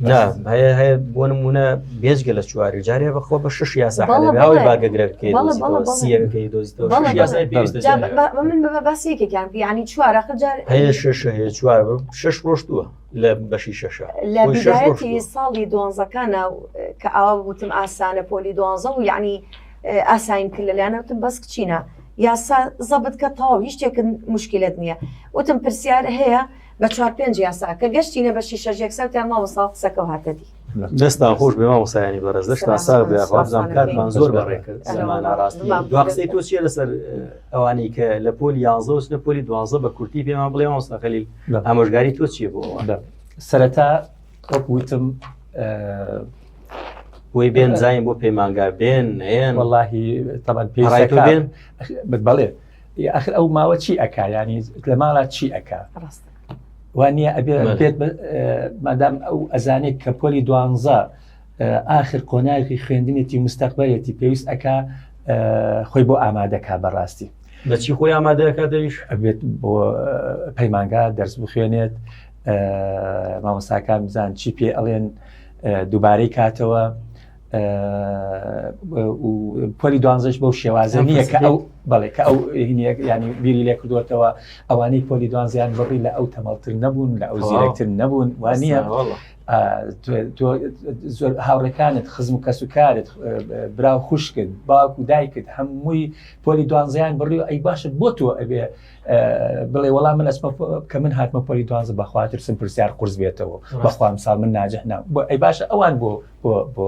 نا هەیە هەیە بۆ نمونە بێجگە لە چواری جارێ بەخۆ بە شش یاسا حەلەباوەی باگەگرەکەی سیەکەی دۆزیتەوە من بە باسی یەکێکیان ینی چوارە خجار هەیە شش هەیە چوار شش ڕۆشتووە لە بەشی شەشە لە بژایەتی ساڵی دۆنزەکانە کە ئاوا وتم ئاسانە پۆلی دۆنزە و یعنی ئاساین کرد لە لایەنەوتم بەس کچینە یاسا زەبت کە تەواو هیچ شتێکن مشکلت نییە وتم پرسیار هەیە بە چوار پێنج یاسا کە گەشتینە بە شیشە ژێک سەوتیان مامۆستا قسەکەو هاتە دی دەستان خۆش بێ مامۆسایانی بەڕێز دەستان ساغ بێ خوازان کاتمان زۆر بەڕێ کرد زمان ئاراستی دوا قسەی تۆ چیە لەسەر ئەوانی کە لە پۆل یانزە و لە پۆلی دوازە بە کورتی پێمان بڵێ مامۆستا خەلیل ئامۆژگاری تۆ چیە بۆ سەرەتا وەک وتم بۆی بێن زانین بۆ پەیمانگا بێن نێن واللهی تەبەن پێ بێن بەڵێ ئاخر ئەو ماوە چی ئەکا ینی لە ماڵا چی ئەکا وانە ئەبێ بێت مادام ئەو ئەزانێک کە پۆلی دوانزە ئاخر قۆناغی خوێندنێتی مستەقبەتی پێویست ئەکا خۆی بۆ ئامادەکە بەڕاستی بەچی خۆی ئامادەکە دەویش ئەبێت بۆ پەیمانگا دەرس بخوێنێت مامۆساکان بزان چی پێ ئەڵێن دووبارەی کاتەوە پۆلی دوانزش بەو شێوازە نییە کە ئەو بەڵێ کە ئەو ینی بیری لێ کردوەتەوە ئەوانەی پۆلی دوانزیان بڕی لە ئەو تەمەڵتر نەبوون لە ئەو زیرەکتر نەبوون وانە زۆر هاوڕەکانت خزم و کەس و کارت برا و خوشکت باوک و دایکت هەمووی پۆلی دوانزیان بڕی و ئەی باشە بۆ تۆ ئەبێ بڵێ وەڵام من ئەسمە کە من هاتمە پۆلی دوانزە بەخواترسم پرسیار قرس بێتەوە بەخوام ساڵ من ناجح نام بۆ ئەی باشە ئەوان بۆ بۆ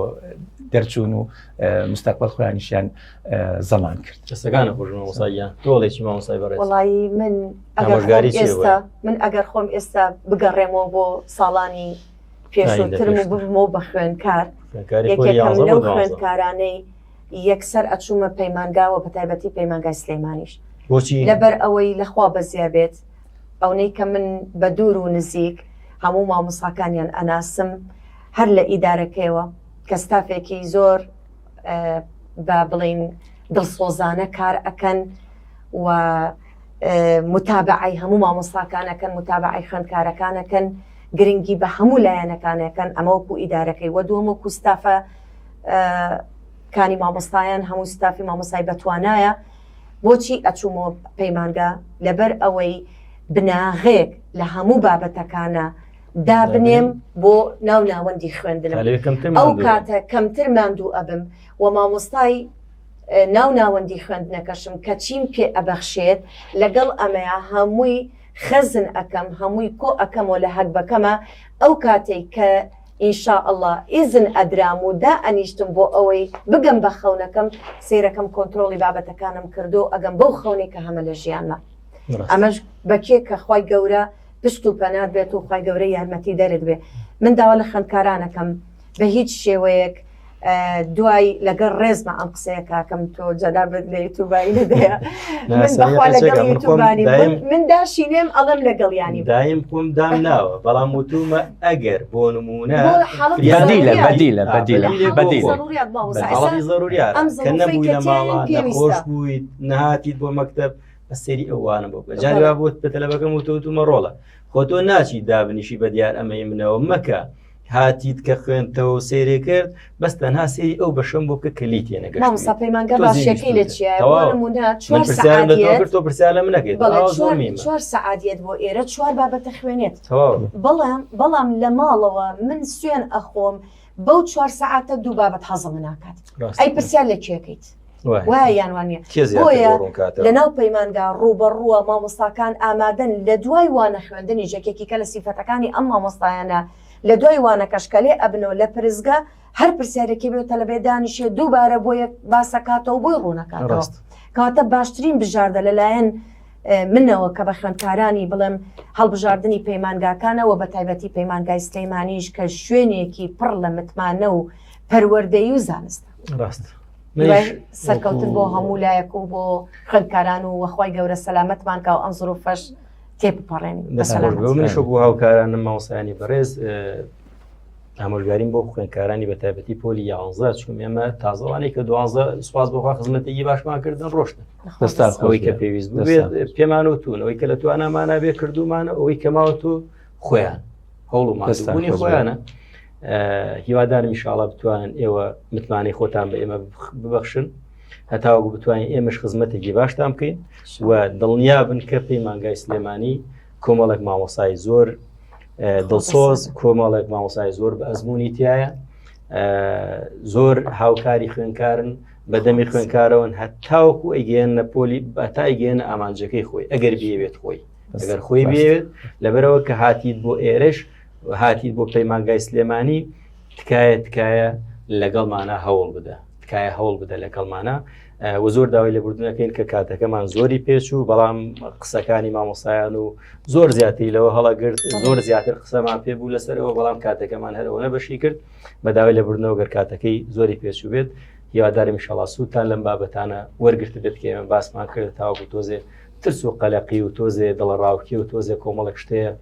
دەرچوون و مستەقبل خۆیانیشیان زەمان کرد دەستەکانە خۆشمەساییان تۆڵێکی مامۆسای بەڕێ وڵی من ئەگەری ئێستا من ئەگەر خۆم ئێستا بگەڕێمەوە بۆ ساڵانی پێشترم و بمۆ بە خوێنکار لەو خوێندکارانەی یەکسەر ئەچوومە پەیمانگاوە بە تایبەتی پەیمانگای سلێمانیش بۆچی لەبەر ئەوەی لەخوا بەزیابێت ئەونەی کە من بە دوور و نزیک هەموو مامۆستاکانیان ئەناسم هەر لە ئیدارەکەیەوە کە ستافێکی زۆر با بڵێین دڵسۆزانە کار ئەکەن و متابعی هەموو مامۆستاکانەکەن متابعی خوێندکارەکانەکەن گرنگی بە هەموو لایەنەکانەکەن ئەمە وەکو ئیدارەکەی وە دووەم وەکو ستافە کانی مامۆستایان هەموو ستافی مامۆسای بەتوانایە بۆچی ئەچوومۆ پەیمانگا لەبەر ئەوەی بناغەیەک لە هەموو بابەتەکانە دابنێم بۆ ناو ناوەندی خوێندنم ئەو کاتە کەمتر ماندوو ئەبم و مامۆستای ناو ناوەندی خوێندنەکەشم کە چیم پێ ئەبەخشێت لەگەڵ ئەمەیە هەمووی خەزن ئەەکەم هەمووی کۆ ئەەکەمەوە لە هەگبەکەمە ئەو کاتێک کە ان شاء اللە ئیزن ئەدرام و دا ئەنیشتم بۆ ئەوەی بگەم بە خەونەکەم سێرەکەم کۆنترۆڵی بابەتەکانم کردو ئەگەم بەو خەونەی کە هەمە لە ژیانمە ئەمەش بە کێ کە خوای گەورە پشت و پەنات بێت و خوای گەورە یارمەتی دەرت بێ من داوا لە خوێندکارانەکەم بە هیچ شێوەیەک دوای لەگەر ڕێزمە ئەم قسەیە کاکەم تۆ جەدا بێت لە یوتوبایی نەدەیە من داشینێم ئەڵم لەگەڵ ینی دایم خۆم دام ناوە بەڵام وتومە ئەگەر بۆ نمونە خۆش بوویت نهاتیت بۆ مەکتب بەسەری ئەوانە بۆ جاروا بۆت بە تەلەبەکەم وتوتومە ڕۆڵە خۆ تۆ ناچی دابنیشی بە دیار ئەمەی منەوە مەکە. هاتیت کە خوێندتەوە و سەیرێ کرد بەس تەنها سەیری ئەو بەشەم بۆ بکە کە لیتێ نەگەشت مامۆستا پەیمانگا تۆ زیری باشەکەی لە سووتە. چیایە بۆ تەواو. نمونە من چوار پرسیارم لە تۆ سەعات کرد تۆ پرسیار لە من نەکەیت بەڵێ ئاوا زۆر چوار مینە چوار سەعات یەت بۆ ئێرە چوار بابەت دەخوێنێت تەواو بەڵام بەڵام لە ماڵەوە من سوێن ئەخۆم بەو چوار سەعاتە دوو بابەت حەزم ناکات ڕاستە ئەی پرسیار لە کێکەیت وایە یان وانە بۆیە لەناو پەیمانگا ڕوبەڕووە مامۆستاکان ئامادەن لە دوای وانە خوێندنی ژەکێکی کە لە سیفەتەکانی ئەم مامۆستایانە لە دوای وانەکەشکەلێ ئەبنەوە لە پرزگە هەر پرسیارێکی بێت تەلبێ دانیشێ دووبارە بۆ یەک باسەکاتەوە بۆی ڕوونەکە ڕاست کاتە باشترین بژاردە لەلایەن منەوە کە بە خوێندکارانی بڵێم هەڵبژاردننی پەیمانگاکانەوە بە تایبەتی پەیمانگای سلەیمانیش کە شوێنێکی پڕ لە متمانە و پەروەەردەی و زانستە ڕاست سەرکەوتن بۆ هەموو لایەک و بۆ خوێندکاران و وەخوای گەورە سەلامەتمان کاو ئەم زڕ و فەش تێپەڕێن منش بۆ هاوکارانە ماوسانی بەڕێز ئامۆژگاریم بۆ خوێندکارانی بە تایبەتی پۆلی یاانزە چون ئێمە تازەوانەی کە دوانزە سوپاس بۆخوا خزمەتێکی باشمان کردن ڕۆشتن ئەوەی کە پێویست پێمان و تون ئەوەی کە لە توانامانە بێ کردومان ئەوەی کەماوە تو خۆیان هەوڵ و ماستانی خۆیانە هیوادارمی شاڵە بتوانن ئێوە متمانەی خۆتان بە ئێمە ببەخشن هەتاوەکو بتوانین ئێمەش خزمەتێکی باشتان بکەین و دڵنیا بن کە پەیمانگای سلێمانی کۆمەڵێک مامۆسای زۆر دڵسۆز کۆمەڵێک مامۆسای زۆر بە ئەزمموی تایە زۆر هاوکاری خوێنکارن بەدەمی خوێنکارەوەن هەتاوەکو ئەیگەیان نە پۆلی بەتای گەێنە ئامانجەکەی خۆی ئەگەر بێوێت خۆی ئەگەر خۆی بێت لەبەرەوە کە هاتیت بۆ ئێرش هاتیت بۆ پەیمانگای سلێمانی تکایە تکایە لەگەڵمانە هەوڵ بدە تکایە هەوڵ بدە لەگەڵمانە و زۆر داوای لەبوردنەکەین کە کاتەکەمان زۆری پێچ و بەڵام قسەکانی مامۆسایان و زۆر زیاتری لەوە هەڵەگرت زۆر زیاتر قسەمان پێ بوو لەسەرەوە بەڵام کاتەکەمان هەرەوە نەبەشی کرد بە داوای لەبوردنەوە گەر کاتەکەی زۆری پێچ و بێت هیوادارم شڵاسووتان لەم بابەتانە وەرگرت بێت کێمە باسمان کرد تاوەکو تۆزێ ترس و قەلەقی و تۆزێ دڵەڕاوکی و تۆزێ کۆمەڵک شتەیە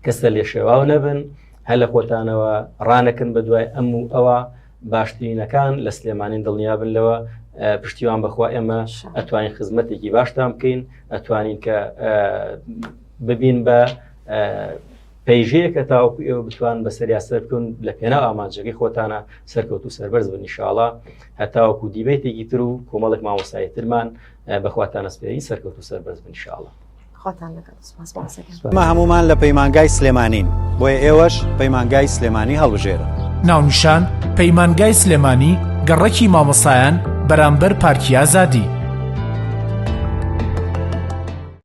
کە سەر لێ شێواو نەبن هەر لە خۆتانەوە ڕانەکن بە دوای ئەم و ئەوە باشترینەکان لە سلێمانین دڵنیابن لەوە پشتیوان بەخوا ئێمە ئەتوانین خزمەتێکی باشتان بکەین ئەتوانین کە ببین بە پەیژەیە کە تاوەکو ئێوە بتوان بە سەریاسەر بکەون لە پێنا ئامانجەکەی خۆتانە سەرکەوت و سەربەرز بنیشاڵە هەتاوەکو دیبێتێکی تر و کۆمەڵک مامۆسایی ترمان بەخواتانەسپێری سەرکەوت و سەربەرز بن شاڵە. مە هەمومان لە پەیمانگای سلێمانین بۆیە ئێوەش پەیمانگای سلێمانی هەڵبژێرن ناونیشان پەیمانگای سلێمانی گەڕەکی مامەسایان بەرامبەر پارکی ئازادی.